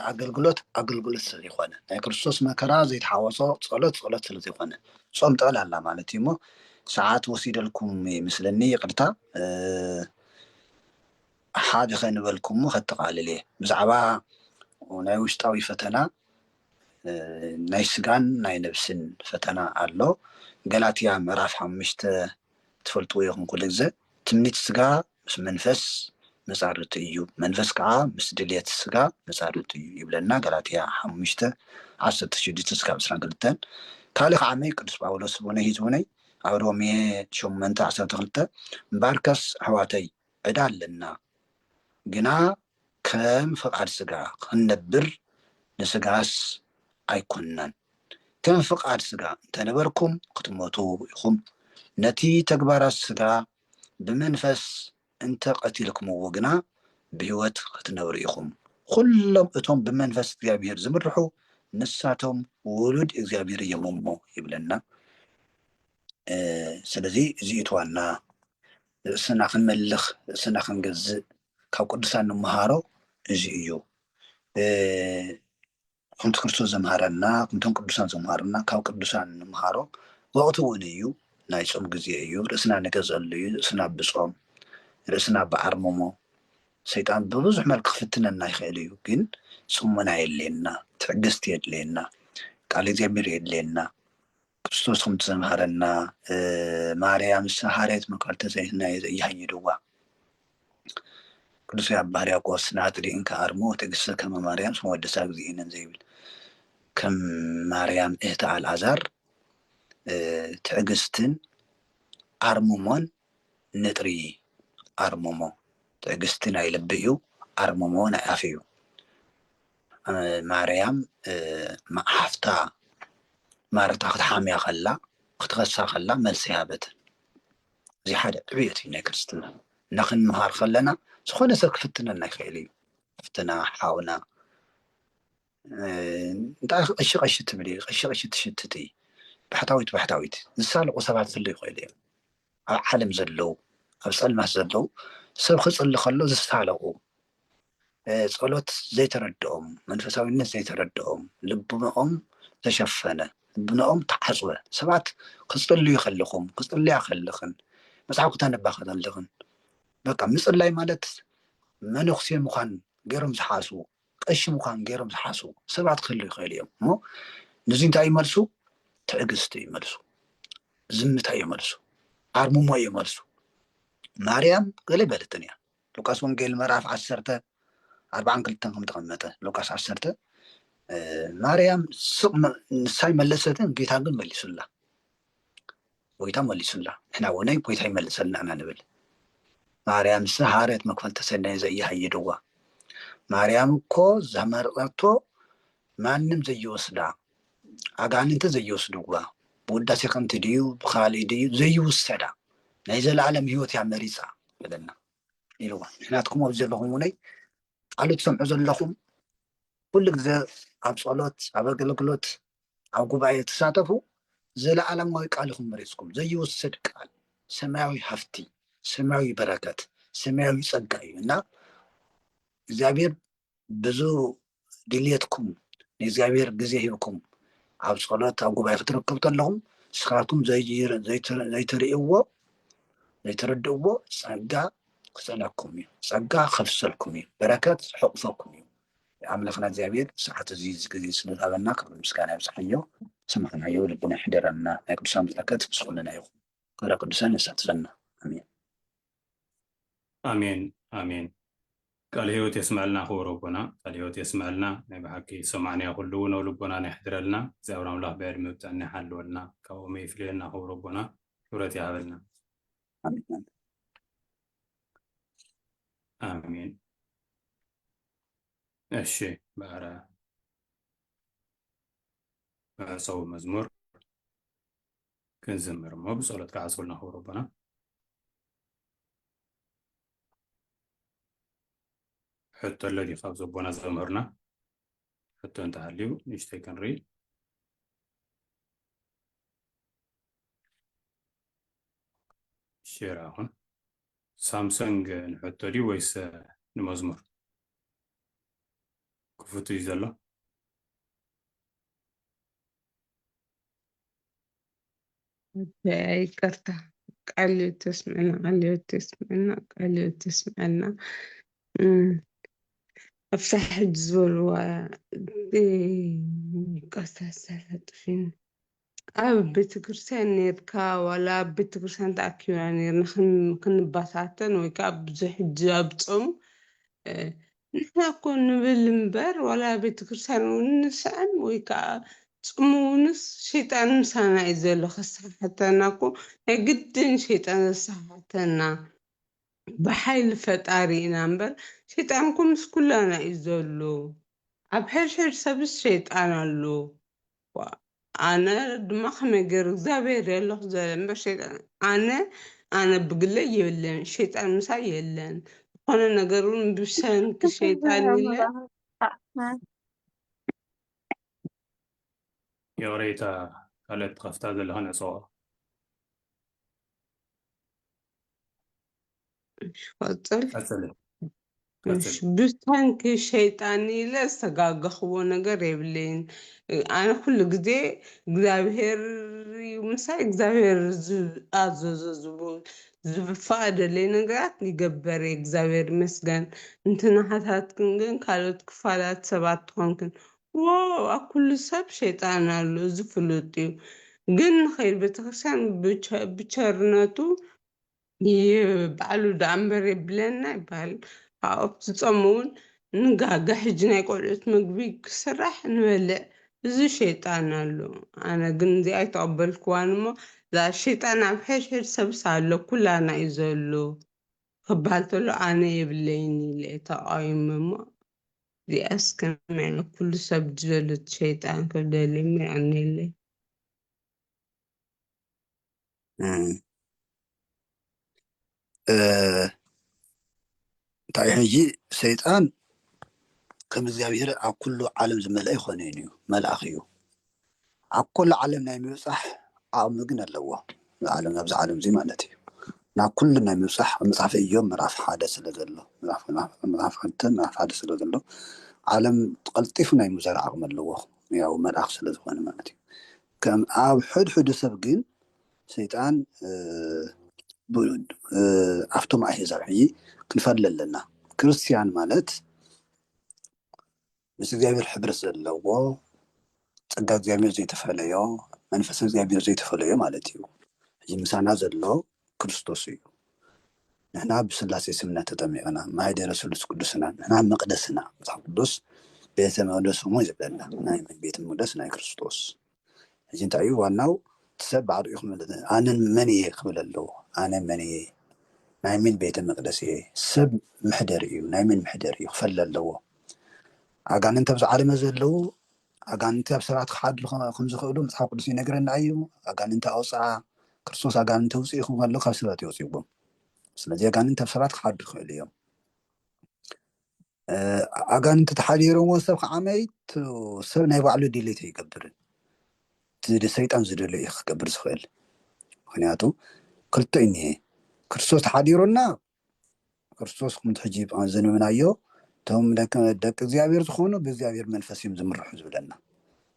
ኣገልግሎት ኣገልግሎት ስለዘይኮነ ናይ ክርስቶስ መከራ ዘይተሓወሶ ፀሎት ፀሎት ስለዘይኮነ ፆም ጥዕል ኣላ ማለት እዩ እሞ ሰዓት ወሲደልኩም ይምስለኒ ይቅርታ ሓደ ከንበልኩሞ ከጠቓልል እየ። ብዛዕባ ናይ ውሽጣዊ ፈተና ናይ ስጋን ናይ ነብስን ፈተና ኣሎ። ገላትያ ምዕራፍ ሓሙሽተ ትፈልጥዎ ኢኹም ኩሉ ግዘ። ትምኒት ስጋ ምስ መንፈስ መጻርርቱ እዩ፣ መንፈስ ከኣ ምስ ድልየት ስጋ መጻርርቱ እዩ ይብለና ገላትያ ሓሙሽተ ዓሰርተ ሽዱሽተ እስካብ ዕስራን ክልተን። ካልእ ከኣ ኣመይ ቅዱስ ጳውሎስ ቡነይ ህዝቡነይ ኣብ ሮሜ ሸሞንተ ዓሰርተ ክልተ እምበኣርከስ ኣሕዋተይ ዕዳ ኣለና ግና ከም ፍቃድ ስጋ ኽንነብር ንስጋስ ኣይኮንናን ከም ፍቃድ ስጋ እንተነበርኩም ክትሞቱ ኢኹም ነቲ ተግባራት ስጋ ብመንፈስ እንተ ቀቲልክምዎ ግና ብሕይወት ኽትነብሩ ኢኹም ኹሎም እቶም ብመንፈስ እግዚኣብሔር ዝምርሑ ንሳቶም ውሉድ እግዚኣብሔር እዮም እሞ ይብለና ስለዚ እዚ እቲ ዋና ርእስና ክንመልኽ ርእስና ክንገዝእ ካብ ቅዱሳን ንምሃሮ እዚ እዩ ከምቲ ክርስቶስ ዘምሃረና ከምቶም ቅዱሳን ዘምሃሩና ካብ ቅዱሳን ንምሃሮ ወቅቲ እውን እዩ ናይ ፆም ግዜ እዩ ርእስና ንገዘሉ እዩ ርእስና ብፆም ርእስና ብዓርምሞ ሰይጣን ብብዙሕ መልክ ክፍትነና ይኽእል እዩ ግን ፅሞና የድልየና ትዕግስቲ የድልየና ቃል እግዚኣብሔር የድልየና ክርስቶስ ከምቲ ዘምሃረና ማርያ ምስ ሰሃሬት መቀርተ ዘይናየ ዘይሃይድዋ ቅዱስ ያዕቆብ ሕርያቆስ ንኣጥሪእን ከኣርሞ ትዕግስተ ከመ ማርያም ስመ ወደሳ እግዚእነ ዘይብል ከም ማርያም እህተ ኣልኣዛር ትዕግስትን ኣርምሞን ንጥሪ ኣርምሞ ትዕግስቲ ናይ ልቢ እዩ ኣርምሞ ናይ ኣፍ እዩ ማርያም ሓፍታ ማርታ ክትሓምያ ከላ ክትኸሳ ከላ መልሲ ሃበትን። እዚ ሓደ ዕብየት እዩ ናይ ክርስትና እና ክንምሃር ከለና ዝኾነ ሰብ ክፍትነና ይኽእል እዩ ፍትና ሓውና እንታይ ቀሺ ቀሺ ትብል ቀሺ ቀሺ ትሽትት እዩ ባሕታዊት ባሕታዊት ዝሳለቑ ሰባት ክህሉ ይኽእሉ እዮም ኣብ ዓለም ዘለዉ ኣብ ጸልማት ዘለዉ ሰብ ክጽሊ ከሎ ዝሳለቑ ጸሎት ዘይተረድኦም መንፈሳዊነት ዘይተረድኦም ልቡናኦም ተሸፈነ ልቡናኦም ተዓጽወ ሰባት ክጽልዩ ከለኹም ክጽልያ ከለኽን መጽሓፍ ክተንባ ከለኽን በቃ ምጽላይ ማለት መነኩሴ ምዃን ገይሮም ዝሓስቡ ቀሺ ምዃን ገይሮም ዝሓስቡ ሰባት ክህሉ ይኽእሉ እዮም እሞ ንዚ እንታይ እዩ መልሱ? ትዕግስቲ እዩ መልሱ፣ ዝምታ እዩ መልሱ፣ ኣርምሞ እዩ መልሱ። ማርያም ገለ በለትን እያ ሉቃስ ወንጌል ምዕራፍ ዓሰርተ ኣርባዓን ክልተን ከም ተቐመጠ ሉቃስ ዓሰርተ ማርያም ስቕ ንሳይ መለሰትን ጌታ ግን መሊሱላ ጎይታ መሊሱላ ንሕና ውነይ ጎይታ ይመልሰልና እና ንብል ማርያም እሰ ሃረት መክፈልተ ሰናይ ዘኢሃየደዋ ማርያም እኮ ዘመርቀቶ ማንም ዘይወስዳ ኣጋንንተ ዘይወስድዋ ብውዳሴ ከምቲ ድዩ ብካልእ ድዩ ዘይውሰዳ ናይ ዘለኣለም ሂወት እያ መሪፃ በለና ኢልዋ ንሕናትኩም ኣብዚ ዘለኹም ውነይ ቃሉ ትሰምዑ ዘለኹም ኩሉ ግዘ ኣብ ፀሎት ኣብ ኣገልግሎት ኣብ ጉባኤ ትሳተፉ ዘለኣለማዊ ቃል ኢኹም መሪጽኩም ዘይውሰድ ቃል ሰማያዊ ሃፍቲ ሰማያዊ በረከት ሰማያዊ ጸጋ እዩ እና እግዚኣብሔር ብዙ ድልየትኩም ንእግዚኣብሔር ግዜ ሂብኩም ኣብ ጸሎት ኣብ ጉባኤ ክትረከቡ ተለኹም ንስኻትኩም ዘይትርእይዎ ዘይትርድእዎ ጸጋ ክጸለኩም እዩ ጸጋ ከፍሰልኩም እዩ በረከት ዝሕቑፈኩም እዩ ኣምላኽና እግዚኣብሔር ሰዓት እዚ ግዜ ስለዝሃበና ክብሪ ምስጋና ይብጽሓዮ ዝሰማዕናዮ ኣብ ልብና ይሕደረና ናይ ቅዱሳን በረከት ምስ ኩልና ይኹን ክብረ ቅዱሳን የሳትፈና ኣሜን ኣሜን ኣሜን ቃል ህይወት የስመዐልና ክቡር ኣቦና ቃል ህይወት የስመዐልና ናይ ብሓቂ ሰማዕናዮ ኩሉ እውን ኣብ ልቦናና ይሕድረልና እግዚኣብሔር ኣምላኽ ብዕድመ ብጥዕና ይሓልወልና ካብኦም ይፍለየና ክቡር ኣቦና ክብረት ይሃበልና ኣሜን ኣሜን እሺ በረ ሰው መዝሙር ክንዝምር እሞ ብጸሎት ክዓጽውልና ክብሩ ኣቦና ሕቶ ኣሎ ድዩ ካብ ዘቦና ዘምህርና ሕቶ እንተሃልዩ ንእሽተይ ክንርኢ ሼር ኣኹን ሳምሰንግ ንሕቶ ድዩ ወይስ ንመዝሙር ክፉት እዩ ዘሎ ይቅርታ ቃል ተስምዕና ቃል ተስምዕና ቃል ተስምዕና ኣብታ ሕጂ ዝበልዋ ቀሳ ሳላ ጥፊን ኣብ ቤተክርስትያን ኔርካ ዋላ ኣብ ቤተክርስትያን ተኣኪብና ኔርና ክንባታተን ወይ ከዓ ብዙሕ ሕጂ ኣብ ጾም ንሕና እኮ ንብል እምበር ዋላ ኣብ ቤተክርስትያን እውን ንስዕም ወይ ከዓ ጽሙ እውንስ ሸይጣን ምሳና እዩ ዘሎ ከሰሓሕተና እኮ ናይ ግድን ሸይጣን ዘሰሓሕተና ብሓይሊ ፈጣሪ ኢና እምበር ሸይጣን እኮ ምስ ኩላና እዩ ዘሎ ኣብ ሕድሕድ ሰብስ ሸይጣን ኣሎ ኣነ ድማ ከመይ ገይሩ እግዚኣብሔር የለኹ ዘለ እምበር ሸይጣን ኣነ ኣነ ብግለይ የለን ሸይጣን ምሳይ የለን ዝኾነ ነገር እውን ብሰንኪ ሸይጣን ኢለ ይቕሬታ ካልኦት ትኸፍታ ዘለኻ ነፀዋ ቀፅል ቀፅሊ ቀፅሊ ብሰንኪ ሸይጣን ኢለ ዝተጋገኽዎ ነገር የብለይን። ኣነ ኩሉ ግዜ እግዚኣብሄር እዩ ምሳይ እግዚኣብሄር ዝኣዘዞ ዝብ- ዝፈቀደለይ ነገራት ይገበር እየ እግዚኣብሄር ይመስገን። እንተ ንሓታትክን ግን ካልኦት ክፋላት ሰባት ትኾንክን እዎ ኣብ ኩሉ ሰብ ሸይጣን ኣሎ እዚ ፍሉጥ እዩ ግን ንኸይድ ቤተክርስትያን ብቸርነቱ ባዕሉ ደኣ እምበር የብለና ይበሃል ኣብኡ ትጾም እውን ንጋገ ሕጂ ናይ ቆልዑት ምግቢ ክስራሕ ንበልዕ እዚ ሸይጣን ኣሎ ኣነ ግን እዚ ኣይተቐበልክዋን እሞ እዛ ሸይጣን ኣብ ሕድሕድ ሰብስ ኣሎ ኩላና እዩ ዘሎ ክበሃል ተሎ ኣነ የብለይን ኢለ ተቓዊመ እሞ እዚኣስ ከመይ ኢለ ኩሉ ሰብ ድለሉት ሸይጣን ክብደሊ እሞ የዕኒለይ እንታይ ሕጂ ሰይጣን ከም እግዚኣብሄር ኣብ ኩሉ ዓለም ዝመልአ ኣይኮነን እዩ መልኣኽ እዩ ኣብ ኩሉ ዓለም ናይ ምብጻሕ ዓቕሚ ግን ኣለዎ። ንዓለም ናብዚ ዓለም እዚ ማለት እዩ። ናብ ኩሉ ናይ ምብጻሕ ኣብ መጽሓፈ እዮብ ምዕራፍ ሓደ ስለ ዘሎ ምዕራፍ ክልተ ምዕራፍ ሓደ ስለ ዘሎ ዓለም ቀልጢፉ ናይ ምዛር ዓቕሚ ኣለዎ ያው መልኣኽ ስለ ዝኾነ ማለት እዩ። ከም ኣብ ሕድሕዱ ሰብ ግን ሰይጣን ኣብቶም ኣህዛብ ሕጂ ክንፈሊ ኣለና ክርስትያን ማለት ምስ እግዚኣብሔር ሕብረት ዘለዎ ጸጋ እግዚኣብሔር ዘይተፈለዮ መንፈስ እግዚኣብሔር ዘይተፈለዮ ማለት እዩ እዚ ምሳና ዘሎ ክርስቶስ እዩ ንሕና ብስላሴ ስምና ተጠሚቕና ማይደረ ስሉስ ቅዱስና ንሕና መቕደስና መጽሓፍ ቅዱስ ቤተ መቅደስ እሞ ይብለና ናይ ቤተ መቅደስ ናይ ክርስቶስ ሕጂ እንታይ እዩ ዋናው እቲ ሰብ ባዕሉ እዩ ክምልጥ ዘለ ኣነ መን እየ ክብል ኣለዎ ኣነ መን እየ ናይ ምን ቤተ መቅደስ እየ ሰብ ምሕደሪ እዩ ናይ ምን ምሕደሪ እዩ ክፈለ ኣለዎ ኣጋንንቲ ኣብዚ ዓለመ ዘለዉ ኣጋንንቲ ኣብ ሰባት ክሓድሩ ከምዝኽእሉ መጽሓፍ ቅዱስ ይነግረና እዩ ኣጋንንቲ ኣውፅኣ ክርስቶስ ኣጋንንቲ ውፅእ ይኹም ከሎ ካብ ሰባት የውፅዎም ስለዚ ኣጋንንቲ ኣብ ሰባት ክሓድሩ ይኽእሉ እዮም ኣጋንንቲ ተሓዲሮምዎ ሰብ ከዓ መይቱ ሰብ ናይ ባዕሉ ድሌት ኣይገብርን እቲ ሰይጣን ዝደሎ እዩ ክገብር ዝኽእል ምክንያቱ ክልተ እዩ እኒሀ ክርስቶስ ተሓዲሩና ክርስቶስ ከምቲ ሕጂ ዘንብብናዮ እቶም ደቂ እግዚኣብሔር ዝኾኑ ብእግዚኣብሔር መንፈስ እዮም ዝምርሑ ዝብለና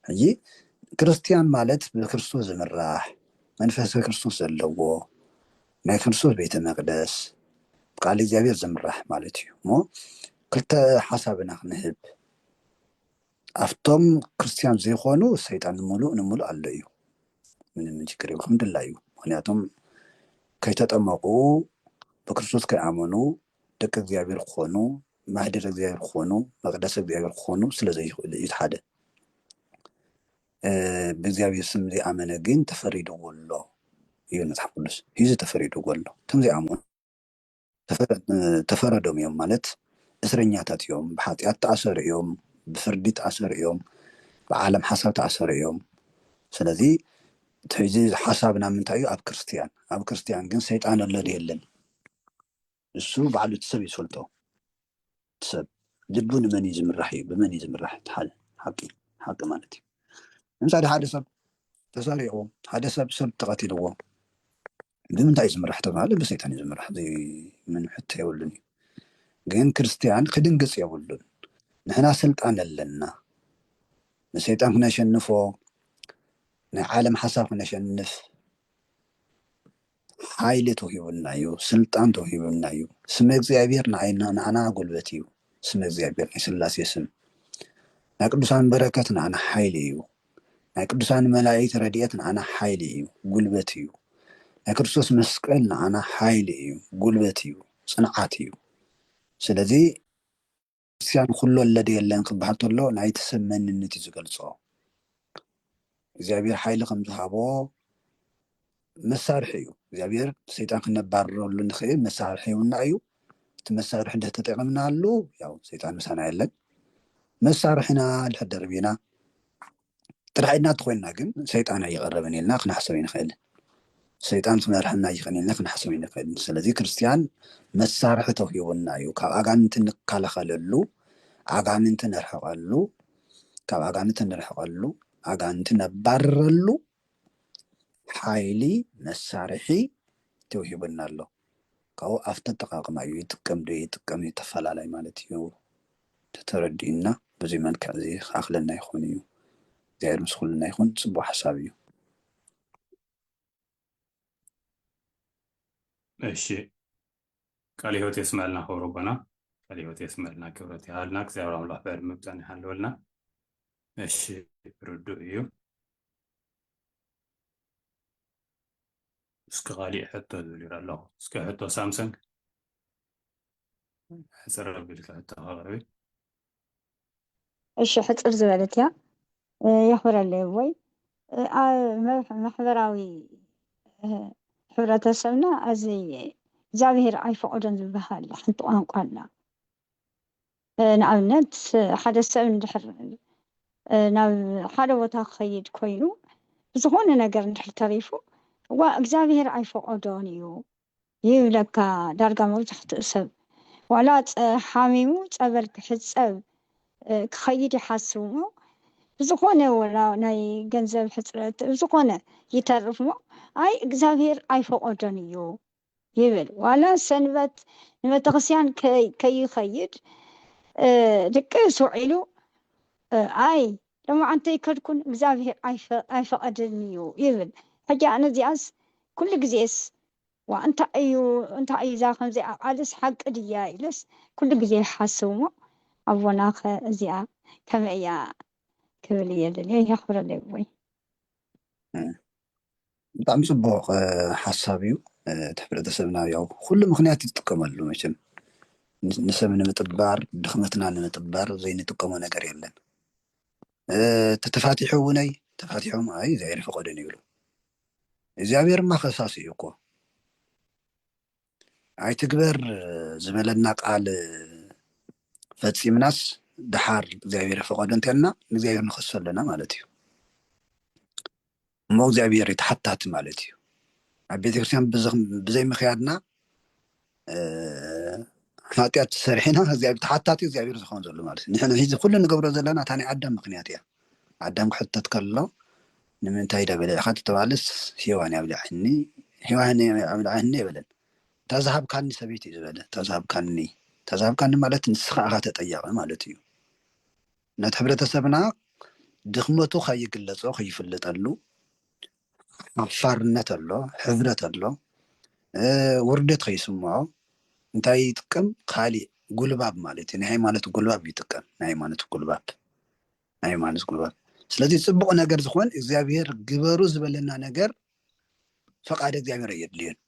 ሕጂ ክርስትያን ማለት ብክርስቶስ ዝምራሕ መንፈሰ ክርስቶስ ዘለዎ ናይ ክርስቶስ ቤተ መቅደስ ብቃል እግዚኣብሔር ዝምራሕ ማለት እዩ እሞ ክልተ ሓሳብ ኢና ክንህብ ኣብቶም ክርስትያን ዘይኮኑ ሰይጣን ንምሉእ ንምሉእ ኣሎ እዩ ምንም ችግር የብሉ ከም ድላዩ ምክንያቱም ከይተጠመቁ ብክርስቶስ ከይኣመኑ ደቂ እግዚኣብሔር ክኾኑ ማህደር እግዚኣብሔር ክኾኑ መቅደስ እግዚኣብሔር ክኾኑ ስለ ዘይኽእሉ እዩ ሓደ ብእግዚኣብሔር ስም ዘይኣመነ ግን ተፈሪድዎ ኣሎ ይብል መጽሓፍ ቅዱስ ሂዚ ተፈሪድዎ ኣሎ እቶም ዘይኣምኑ ተፈረዶም እዮም ማለት እስረኛታት እዮም ብሓጢኣት ተኣሰሩ እዮም ብፍርዲ ተኣሰሩ እዮም ብዓለም ሓሳብ ተኣሰሩ እዮም ስለዚ እዚ ሓሳብና ምንታይ እዩ ኣብ ክርስትያን ኣብ ክርስትያን ግን ሰይጣን ኣሎ የለን ንሱ ባዕሉ እቲ ሰብ እዩ ዝፈልጦ እቲ ሰብ ልቡ ንመን እዩ ዝምራሕ እዩ ብመን እዩ ዝምራሕ እቲ ሓደ ሓቂ ሓቂ ማለት እዩ ንምሳሌ ሓደ ሰብ ተሰሪቑ ሓደ ሰብ ሰብ ተቐቲልዎ ብምንታይ ዝምራሕ ተባሃለ ብሰይጣን እዩ ዝምራሕ ዘይምን ሕቶ የብሉን እዩ ግን ክርስትያን ክድንግፅ የብሉን ንሕና ስልጣን ኣለና ንሰይጣን ክነሸንፎ ናይ ዓለም ሓሳብ ክነሸንፍ ሓይሊ ተውሂቡና እዩ ስልጣን ተውሂቡና እዩ ስመ እግዚኣብሔር ንዓይና ንዓና ጉልበት እዩ ስመ እግዚኣብሔር ናይ ስላሴ ስም ናይ ቅዱሳን በረከት ንዓና ሓይሊ እዩ ናይ ቅዱሳን መላእክት ረድኤት ንዓና ሓይሊ እዩ ጉልበት እዩ ናይ ክርስቶስ መስቀል ንዓና ሓይሊ እዩ ጉልበት እዩ ጽንዓት እዩ ስለዚ ክርስትያን ኹሉ ኣለ ዶ የለን ክበሃል ተሎ ናይቲ ሰብ መንነት እዩ ዝገልጾ። እግዚኣብሔር ሓይሊ ከም ዝሃቦ መሳርሒ እዩ። እግዚኣብሔር ሰይጣን ክነባርረሉ ንኽእል መሳርሒ ይውና እዩ። እቲ መሳርሒ እንድሕር ተጠቂምናሉ ያው ሰይጣን ምሳና የለን። መሳርሕና እንድሕር ደርቢና ጥራሕ ኢድና እንተኾይንና ግን ሰይጣን ኣይቐረበን ኢልና ክንሓሰብ ኣይንኽእልን። ሰይጣን ክመርሐና ይኽእል ኢልና ክንሓሰብ ኣይንኽእልን። ስለዚ ክርስትያን መሳርሒ ተውሂቡና እዩ። ካብ ኣጋንንቲ እንከላኸለሉ፣ ኣጋንንቲ ነርሕቐሉ፣ ካብ ኣጋንንቲ እንርሕቐሉ፣ ኣጋንንቲ ነባርረሉ ሓይሊ መሳርሒ ተውሂቡና ኣሎ። ካብኡ ኣብቲ ኣጠቃቅማ እዩ ይጥቀም ዶ ይጥቀም ይተፈላለይ ማለት እዩ። ተተረዲኡና በዙይ መልክዕ እዙይ ክኣክለና ይኮን እዩ እግዚኣብሔር ምስ ኩልና ይኩን ፅቡቅ ሓሳብ እዩ። እሺ ቃል ህይወት የስመልና ክብሩ ኣቦና ቃል ህይወት የስመልና ክብረት ይሃልና እግዚኣብሔር ኣምላክ በሪ ምብጣን ይሃለወልና እሺ ርዱእ እዩ እስኪ ካሊእ ሕቶ ዝብል ይረ ኣለኹ እስኪ ሕቶ ሳምሰንግ ሕፅር ኣቢልካ ሕቶ ኣቕርቢ እሺ ሕፅር ዝበለት እያ እ፣ የኽብረለይ ወይ እ፣ ኣብ መብ- ማሕበራዊ እ፣ ሕብረተሰብና እዚ እግዚኣብሄር ኣይፈቐዶን ዝበሃል ሓንቲ ቋንቋ ኣላ እ፣ ንኣብነት እ፣ ሓደ ሰብ እንድሕር እ፣ ናብ ሓደ ቦታ ክኸይድ ኮይኑ ብዝኾነ ነገር እንድሕር ተሪፉ ዋ እግዚኣብሄር ኣይፈቐዶን እዩ ይብለካ ዳርጋ መብዛሕትኡ ሰብ ዋላ ሓሚሙ ጸበል ክሕጸብ ክኸይድ ይሓስብሞ ብዝኾነ ወላ ናይ ገንዘብ ሕጽረት ብዝኾነ ይተርፍሞ ኣይ እግዚኣብሄር ኣይፈቆዶን እዩ ይብል ዋላ ሰንበት ንቤተክርስቲያን ከይኸይድ ድቅስ ውዒሉ ኣይ ደማ ኣንተይከድኩን እግዚኣብሄር ኣይፈቐድን እዩ ይብል ሕጂ ኣነ እዚኣስ ኩሉ ግዜስ ዋእ እንታይ እዩ እንታይ እዩ እዛ ከምዚኣ ቃልስ ሓቂ ድያ ኢለስ ኩሉ ግዜ ይሓስብ እሞ ኣቦናኸ እዚኣ ከመይ እያ ክብል እየ ደልየ የኽብረለይ ኣቦይ። ብጣዕሚ ጽቡቅ ሓሳብ እዩ እቲ ሕብረተሰብና ያው ኩሉ ምኽንያት እዩ ዝጥቀመሉ መቸም ንሰብ ንምጥባር ድኽመትና ንምጥባር ዘይንጥቀሞ ነገር የለን እቲ ተፋቲሑ እውነይ ተፋቲሖም ኣይ እግዚኣብሔር ፈቀደን ይብሉ እግዚኣብሔርማ ከሳሲ እዩ እኮ ኣይትግበር ዝበለና ቃል ፈጺምናስ ድሓር እግዚኣብሔር ፈቀዶ እንተልና ንእግዚኣብሔር ንኸሶ ኣለና ማለት እዩ እሞ እግዚኣብሔር ተሓታቲ ማለት እዩ ኣብ ቤተክርስትያን ብዘይ ምክያድና ሓጢኣት ሰሪሕና እግዚኣብሔር ተሓታቲ እግዚኣብሔር ዝኸውን ዘሎ ማለት እዩ ንሕና ሂዚ ኩሉ ንገብሮ ዘለና እታ ናይ ኣዳም ምክንያት እያ ኣዳም ክሕተት ከሎ ንምንታይ ደበለዕካ ተተባለስ ሂዋን ያብልዐኒ ሂዋን ያብልዐኒ የበለን እታ ዝሃብካኒ ሰበይቲ እዩ ዝበለ እታ ዝሃብካኒ እታ ዝሃብካኒ ማለት ንስኻ ኢኻ ተጠያቂ ማለት እዩ ነቲ ሕብረተሰብና ድኽመቱ ከይግለጾ ከይፍልጠሉ ሓፋርነት ኣሎ፣ ሕብረት ኣሎ፣ ውርደት ከይስምዖ እንታይ ይጥቀም ካሊእ ጉልባብ ማለት እዩ። ናይ ሃይማኖት ጉልባብ ይጥቀም። ናይ ሃይማኖት ጉልባብ ናይ ሃይማኖት ጉልባብ። ስለዚ ፅቡቅ ነገር ዝኮን እግዚኣብሔር ግበሩ ዝበለና ነገር ፈቃድ እግዚኣብሔር ኣየድልዮን።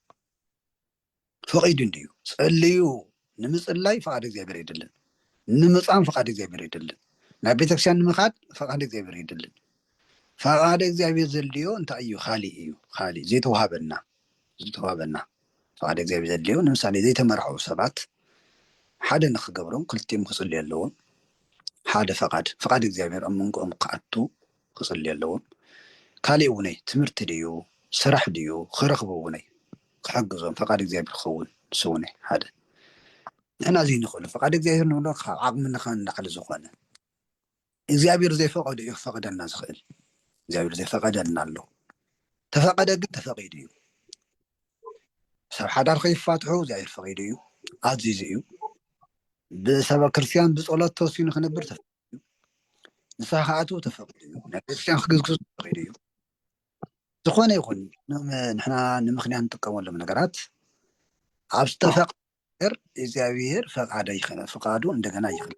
ፈቂዱ እንድዩ ጸልዩ ንምጽላይ ፍቃድ እግዚኣብሔር የድልን ንምጻም ፍቃድ እግዚኣብሔር የድልን ናብ ቤተክርስቲያን ንምካድ ፍቃድ እግዚኣብሔር የድልን ፍቃድ እግዚኣብሔር ዘድልዮ እንታይ እዩ ካሊእ እዩ ካሊእ ዘይተዋሃበና ዝተዋሃበና ፍቃድ እግዚኣብሔር ዘድልዮ ንምሳሌ ዘይተመርዐው ሰባት ሓደ ንክገብሮም ክልቲኦም ክጽልዩ ኣለዎም ሓደ ፍቃድ ፍቃድ እግዚኣብሔር ኣብ መንጎኦም ክኣቱ ክጽሊ ኣለዎም ካሊእ ውነይ ትምህርቲ ድዩ ስራሕ ድዩ ክረክቡ ውነይ ክሕግዞም ፈቃድ እግዚኣብሔር ክከውን ንሱ ውነይ ሓደ ንሕና ዘይንክእሉ ፈቃድ እግዚኣብሔር ንብሎ ካብ ዓቅምና ካብ ንላዕሊ ዝኮነ እግዚኣብሔር ዘይፈቀዶ እዩ ክፈቅደልና ዝክእል እግዚኣብሔር ዘይፈቀደልና ኣሎ ተፈቀደ ግን ተፈቂዱ እዩ ሰብ ሓዳር ከይፋትሑ እግዚኣብሔር ፈቂዱ እዩ ኣዚዙ እዩ ብሰበ ክርስትያን ብፀሎት ተወሲኑ ክነብር እዩ ንስኻ ክኣትው ተፈቂዱ እዩ ናብ ቤተክርስትያን ክግዝግዙ ተፈቂዱ እዩ ዝኾነ ይኹን ንሕና ንምክንያት ንጥቀመሎም ነገራት ኣብ ዝተፈቅ ነገር እግዚኣብሔር ፈቃደ ይኸነ ፍቃዱ እንደገና ይኸነ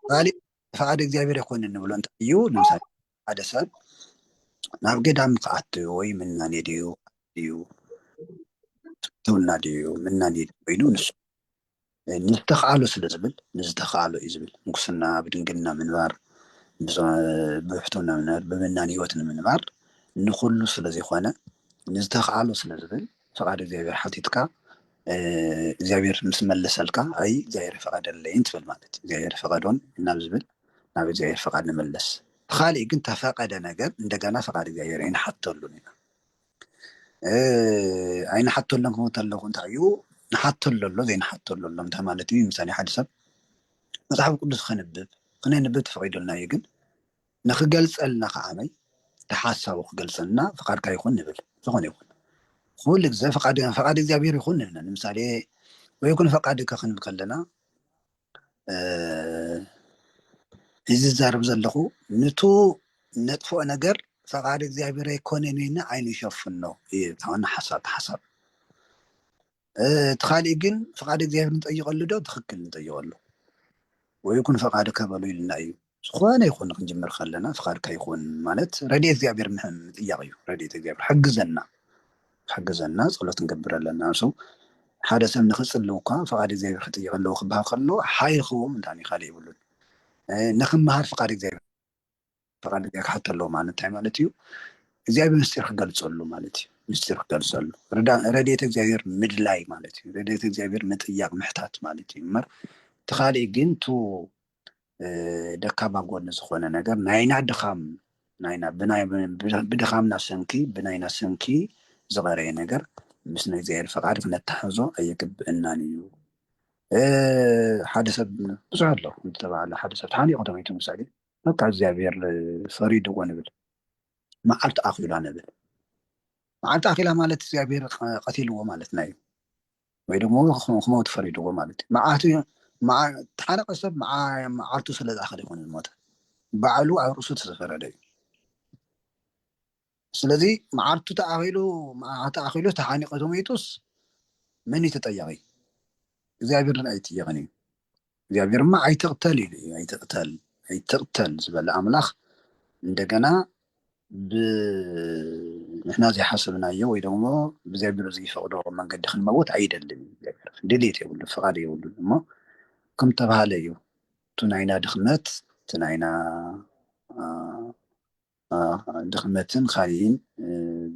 ካሊእ ፈቃድ እግዚኣብሔር ይኮን ንብሎ እንታይ እዩ ንምሳሌ ሓደ ሰብ ናብ ገዳም ክኣት ወይ ምናኔ ድዩ ድዩ ትውና ድዩ ምናኔ ኮይኑ ንሱ ንዝተኸኣሎ ስለ ዝብል ንዝተኸኣሎ እዩ ዝብል ምንኩስና ብድንግልና ምንባር ብብሕትውና ምንባር ብምናን ህይወት ንምንባር ንኹሉ ስለ ዘይኮነ ንዝተኸኣሎ ስለ ዝብል ፍቓድ እግዚኣብሔር ሓቲትካ እግዚኣብሔር ምስ መለሰልካ ኣይ እግዚኣብሔር ፈቐደለይን ትብል ማለት እዩ እግዚኣብሔር ፈቐዶን ናብ ዝብል ናብ እግዚኣብሔር ፈቓድ ንመለስ ተኻሊእ ግን ተፈቐደ ነገር እንደገና ፈቓድ እግዚኣብሔር ኣይንሓተሉን ኢና ኣይንሓተሎም ክመት ኣለኹ እንታይ እዩ ንሓተሎ ኣሎ ዘይንሓተሎ ኣሎ እንታይ ማለት እዩ ምሳሌ ሓደ ሰብ መፅሓፍ ቅዱስ ከንብብ ክነንብብ ተፈቂዶልና እዩ ግን ንክገልፀልና ከዓመይ ሓሳቡ ክገልፀልና ፍቃድካ ይኹን ንብል ዝኾነ ይኹን ኩሉ ግዜ ፍቃድ እግዚኣብሔር ይኹን ንብለ ንምሳሌ ወይኩን ፈቃድካ ክንብል ከለና እዚ ዝዛረብ ዘለኹ ንቱ ነጥፍኦ ነገር ፈቃድ እግዚኣብሔር ኣይኮነን ኢልና ዓይኑ ይሸፍኖ እዩ ታውን ሓሳብ ሓሳብ እቲ ካሊእ ግን ፈቃድ እግዚኣብሔር ንጠይቀሉ ዶ ትክክል ንጠይቀሉ ወይ ኩን ፈቃድ ከበሉ ኢልና እዩ ዝኾነ ይኹን ክንጅምር ከለና ፍቃድካ ይኹን ማለት ረድኤት እግዚኣብሔር ምጥያቅ እዩ ረድኤት እግዚኣብሔር ሓግዘና ሓግዘና ጸሎት ክንገብር ኣለና ንሱ ሓደ ሰብ ንክጽልው እኳ ፍቃድ እግዚኣብሔር ክጥይቅ ኣለዎ ክበሃል ከሎ ሓይ ክህቦ ምንታን እዩ ካልእ ይብሉን ንክመሃር ፍቃድ እግዚኣብሔር ፍቃድ እግዚኣብሔር ክሓቶ ኣለዎ ማለት እንታይ ማለት እዩ እግዚኣብሔር ምስጢር ክገልጸሉ ማለት እዩ ምስጢር ክገልጸሉ ረድኤት እግዚኣብሔር ምድላይ ማለት እዩ ረድኤት እግዚኣብሔር ምጥያቅ ምሕታት ማለት እዩ እምበር እቲ ካልእ ግን ቱ ደካማ ጎኒ ዝኾነ ነገር ናይና ድኻም ናይና ብድኻምና ሰንኪ ብናይና ሰንኪ ዝቐረየ ነገር ምስ ናይ እግዚኣብሔር ፈቃድ ክነተሓዞ ኣይግብእናን እዩ ሓደ ሰብ ብዙሕ ኣሎ እንተባሃለ ሓደ ሰብ ተሓኒቑ ተመይቱ ምሳሌ በቃ እግዚኣብሔር ፈሪድዎ ንብል መዓልቲ ኣኺላ ንብል መዓልቲ ኣኺላ ማለት እግዚኣብሔር ቀቲልዎ ማለትና እዩ ወይ ደሞ ክመውት ፈሪድዎ ማለት እዩ መዓቱ ተሓረቀ ሰብ መዓልቱ ስለ ዝኣኸለ ይኮነ ዝሞተ ባዕሉ ኣብ ርእሱ ተዘፈረደ እዩ ስለዚ መዓልቱ ተኣኺሉ ተኣኺሉ ተሓኒቀ ተመይጡስ መን እዩ ተጠያቂ እግዚኣብሔር ን ኣይጥየቅን እዩ እግዚኣብሔር እማ ኣይትቕተል ኢሉ እዩ ኣይትቕተል ኣይትቕተል ዝበለ ኣምላኽ እንደገና ብንሕና ዘይሓሰብናዮ ወይ ደግሞ እግዚኣብሔር ዘይፈቕዶ መንገዲ ክንመውት ኣይደልን እዩ እግዚኣብሔር ድሌት የብሉ ፍቓድ የብሉን እሞ ከም ተባሃለ እዩ እቲ ናይና ድኽመት እቲ ናይና ድኽመትን ኻሊእን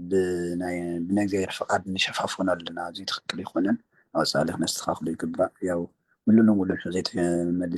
ብናእግዚኣብሔር ፍቃድ ንሸፋፍኖ ኣለና እዙይ ትኽክል ኣይኾነን ኣብ ወፃኢ ኸነስተኻኽሎ ይግባእ ያው ሙሉእ ንሙሉእ እንተዘይተመሊሱ።